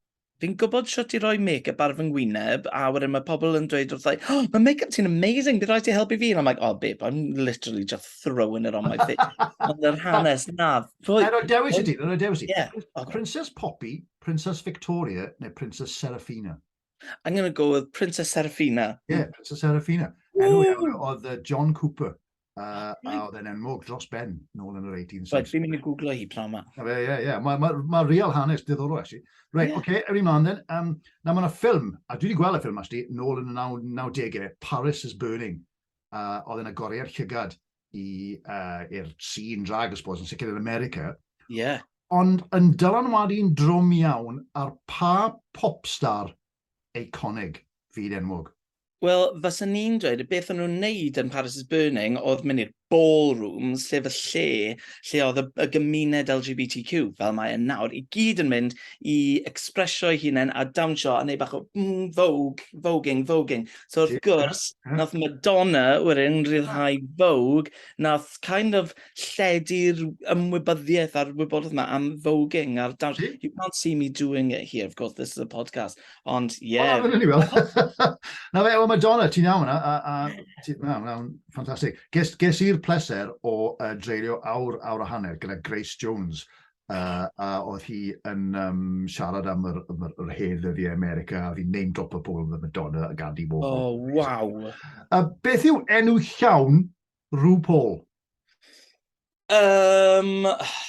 S2: Fi'n gwybod sut i roi make-up ar fy ngwyneb, a wedyn mae pobl yn dweud wrthai, oh, mae make-up ti'n amazing, bydd rhaid ti helpu fi. And I'm like, oh babe, I'm literally just throwing it on my face. Ond yr hanes, na, Rhoi... Na, rhoi dewis i
S1: ti, rhoi dewis i ti. Yeah, okay. Princess
S2: Poppy,
S1: Princess Victoria, neu Princess Serafina. I'm going to go
S2: with Princess Serafina. Yeah, Princess Serafina.
S1: Enw iawn oedd uh, John Cooper. Uh, a oedd e'n enwog dros ben nôl yn yr 1860s. Right, fi'n mynd i googlo hi
S2: pnawn ma. Ie, ie, ie. Mae ma,
S1: ma real hanes diddorol, actually. Right, yeah. okay, ewn i mlaen then. Um, na, mae yna ffilm, a dwi wedi gweld y ffilm, actually, nôl yn y 90au, Paris is Burning. Uh, oedd e'n agoriad llygad i, uh, i'r scene drag, I suppose, yn sicr yn America. Ie. Yeah.
S2: Ond yn
S1: dylanwadu yn drwm iawn ar pa popstar eiconig fyd enwog. Wel, fysa
S2: ni'n dweud, y beth o'n nhw'n neud yn Paris is Burning oedd mynd i'r ballroom, sef y lle lle oedd y, y gymuned LGBTQ, fel mae yn nawr, i gyd yn mynd i expressio'i hunain a dawnsio a neud bach o mm, vogue, voguing, voguing. So wrth gwrs, nath Madonna wedyn rhyddhau Vogue, nath kind of lledu'r ymwybyddiaeth a'r wybodaeth yma am voging a'r dawns. You can't see me doing it here, of course, this is a podcast, ond ie. Yeah. Wel, wel, wel.
S1: Na fe, o Madonna, ti'n iawn yna, a, a ti'n iawn, iawn, ffantastig. Ges, ges i'r pleser o uh, dreulio awr, awr a hanner gyda Grace Jones, uh, a oedd hi yn um, siarad am yr, yr, yr hen ddyddiau America, a fi'n name drop y pobl yn y Madonna a Gandhi Warhol. O, oh, waw!
S2: A beth yw
S1: enw llawn RuPaul? Um,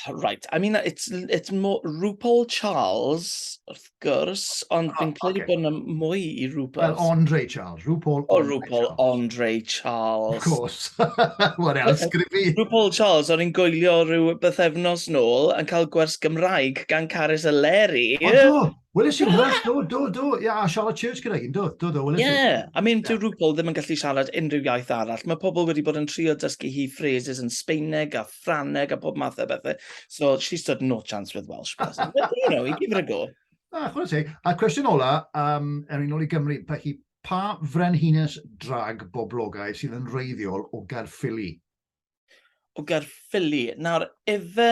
S2: right, I mean, it's, it's more RuPaul Charles, wrth gwrs, ond fi'n credu bod yna mwy i RuPaul. Well, Andre Charles,
S1: RuPaul O, RuPaul Andre
S2: Charles. Of course.
S1: What else could it be? RuPaul Charles, o'n i'n
S2: goelio rhyw bythefnos nôl yn cael gwers Gymraeg gan Carys a Leri. O, do! Weles
S1: i hwnna, do, do, do. Ie, a Charlotte Church gyda un, do, do, do, weles i. Ie, I mean, dyw
S2: RuPaul ddim yn gallu siarad unrhyw iaith arall. Mae pobl wedi bod yn trio dysgu hi phrases yn Sbeineg a Ffrangeg a pob math o bethau. So she stood no chance with Welsh. But, you know, give it a go. A, chwarae teg. A
S1: cwestiwn ola, um, er yn ôl i Gymru, felly, pa frenhines drag boblogaidd sydd yn reiddiol o Gaerffili?
S2: O Gaerffili. Nawr, efe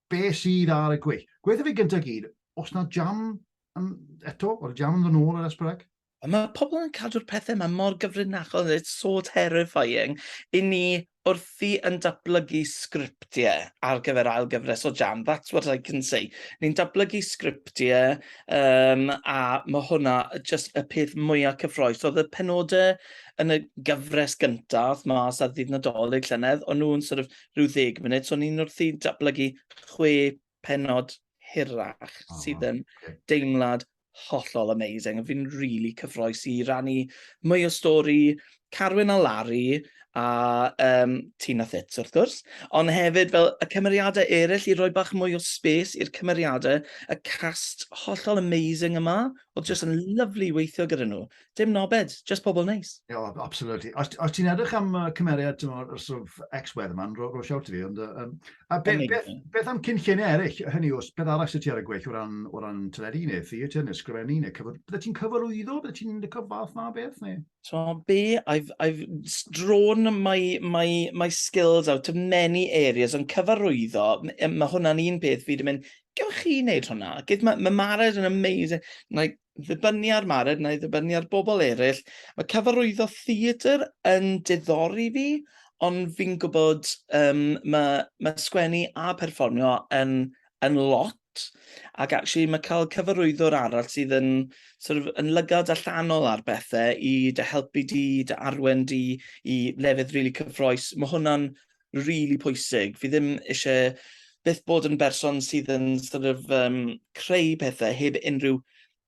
S1: Be sydd ar y gweill? Gweithio fi gyntaf gyd, os na jam yn, eto, o'r jam yn ddod ar Esbyreg? Ond mae pobl yn
S2: cadw'r pethau yma mor gyfrinachol, it's so terrifying, i ni wrthi yn datblygu sgriptiau ar gyfer ail gyfres o Jam, that's what I can say. Ni'n datblygu sgriptiau um, a mae hwnna just y peth mwyaf cyffroes. Oedd y penodau yn y gyfres gyntaf, mas ar ddydd Nadolig llynedd, o'n nhw'n sort of rhyw ddeg munud, so ni'n wrthi datblygu chwe penod hirach oh, sydd yn okay. deimlad hollol amazing. Fi'n rili really cyffroes i rannu mwy o stori Carwyn a Larry a um, Tina Thits wrth gwrs, ond hefyd fel y cymeriadau eraill i roi bach mwy o space i'r cymeriadau, y cast hollol amazing yma, oedd jyst yn lyflu i weithio gyda nhw. dim nobed, just pobl neis. Ie, yeah, oh, absolutely. Os, os ti'n
S1: edrych am uh, cymeriad o'r sort of ex-weather man, ro, ro siawt i fi, ond... Um, a be, be, beth am cynlluniau eraill, hynny os beth arall sydd ti ar y gweill o ran, o ran teledu neu theatr neu sgrifennu neu cyfod... Bydde ti'n cyfarwyddo? Bydde ti'n licio fath na beth? Neu? So be,
S2: I've, I've drawn my, my, my skills out of many areas, ond cyfarwyddo, mae hwnna'n un peth fi wedi mynd, gewch chi wneud hwnna? Mae ma Mared yn amazing. Like, ddibynnu ar Mared na i ddibynnu ar bobl eraill. Mae cyfarwyddo theatr yn diddori fi, ond fi'n gwybod um, mae, mae sgwennu a perfformio yn, yn lot, ac actually mae cael cyfarwyddwr arall sydd yn, sort of, yn lygad allanol ar bethau i dy helpu di, dy arwen di i lefydd rili really cyffroes, mae hwnna'n rili pwysig. Fi ddim ishe byth bod yn berson sydd yn sort of um, creu pethau heb unrhyw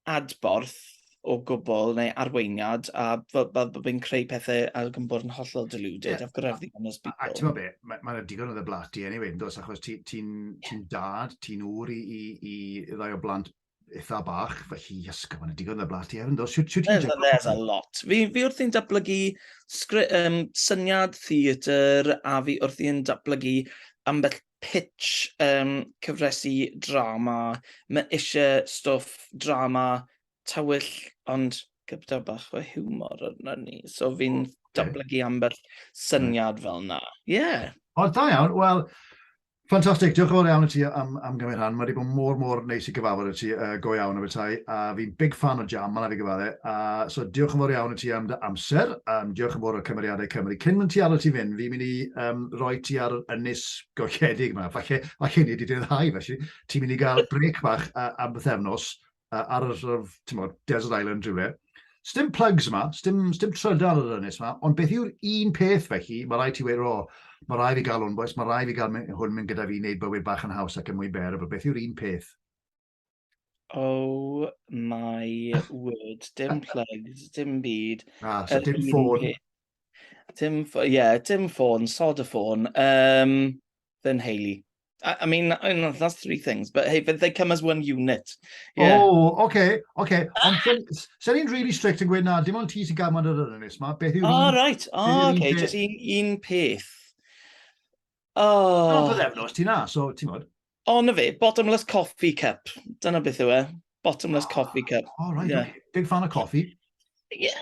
S2: adborth o gwbl neu arweiniad a fel fel bod fi'n creu pethau a yn bod yn hollol deluded, yeah. I've got everything on this people. A, a ti'n be, mae ma
S1: digon o dde blat ti anyway, yn dos, achos ti'n ti, ti, ti dad, ti'n ŵr i, i, i ddau o blant eitha bach, felly ysgaf, mae'n digon na blas ti hefyd, do? Siwt ti'n gwneud? There's a lot.
S2: Fi, fi wrth i'n datblygu um, syniad theatr a fi wrth i'n datblygu ambell pitch um, cyfresu drama. Mae eisiau stwff drama tywyll, ond gyda bach o humor yna ni. So fi'n okay. datblygu ambell syniad fel na. Ie. Yeah. O, da iawn. Wel,
S1: Ffantastig, diolch yn fawr iawn i ti am, am gymryd rhan. Mae wedi bod mor, mor neis i gyfarfod i ti, uh, go iawn o bethau, a fi'n big fan o jam, mae'n fi gyfadde. A so diolch yn fawr iawn i ti am dy amser, um, diolch yn fawr o'r cymeriadau Cymru. Cyn mynd ti aro ti fynd, fi'n mynd i um, roi ti ar yr ynys golledig yma. Falle, falle ni wedi dyddhau, felly ti'n mynd i gael brec bach uh, am bythefnos, uh, ar y sort of, ti'n bod, desert island rhywle. Stim plugs yma, stim, stim trydar ar yr ynnes yma, ond beth yw'r un peth felly, mae rai ti wedi, o, mae rai fi gael hwn, boes, mae rai fi gael hwn mynd gyda fi i wneud bywyd bach yn haws ac yn mwy ber, beth yw'r un peth? Oh
S2: my word, dim plugs, dim byd. Ah, so
S1: dim ffôn. Dim, ie, yeah,
S2: dim ffôn, sod y ffôn. Um, fy nheulu. I, I mean, I know, that's three things, but hey, but they come as one unit. Yeah. Oh, okay,
S1: okay. Ond sy'n ni'n really strict yn gweud na, dim ond ti sy'n gael ma'n yr ynys ma. Beth yw'r... Oh, right. Oh, okay,
S2: just un, un peth. Oh. Dyna
S1: bydd efnos ti na, so ti'n modd. O, na fe, bottomless
S2: coffee cup. Dyna beth yw e. bottomless coffee cup. Oh, right, yeah. okay. Big
S1: fan of coffee.
S2: Yeah.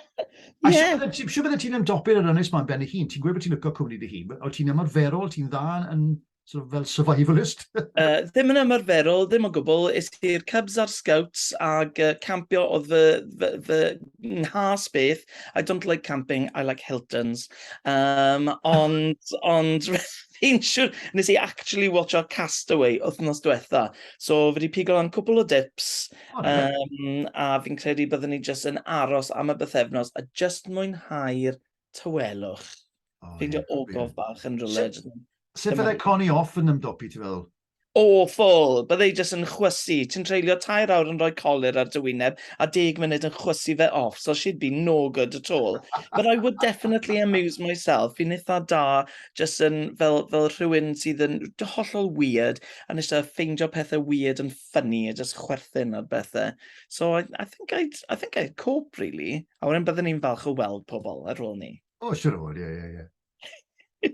S1: A yeah. siw bydde ti'n ymdopi'r yr ynnes ma'n ben i hun, ti'n gweud bod ti'n lyco cwmni dy hun, o ti'n ymarferol, ti'n dda yn sort of fel survivalist? uh, ddim yn
S2: ymarferol, ddim o gwbl. Is i'r Cubs a'r Scouts ag uh, campio oedd fy, fy, fy nghas beth. I don't like camping, I like Hiltons. Um, ond, ond Fi'n siwr, nes i actually watcho Castaway wythnos diwetha, so fi wedi pigo lan cwpl o dips, um, a fi'n credu byddwn ni jyst yn aros am y bythefnos a jyst mwynhau'r tawelwch. Oh, Fi'n yeah, ogof bach yn rhywle. Sut fydde
S1: Connie off yn ymdopi, ti fel? Awful!
S2: Bydde i jyst yn chwysu. Ti'n treulio tair awr yn rhoi colur ar dy wyneb a deg munud yn chwysu fe off, so she'd be no good at all. But I would definitely amuse myself. Fi'n eitha da jyst yn fel, fel rhywun sydd yn hollol weird a nes a ffeindio pethau weird yn ffynnu a jyst chwerthin ar bethau. So I, I, think I'd, I think I'd cope,
S1: really.
S2: A wedyn byddwn
S1: ni'n
S2: falch o weld
S1: pobl
S2: ar ôl ni. O, siwr o fod, ie,
S1: ie,
S2: ie.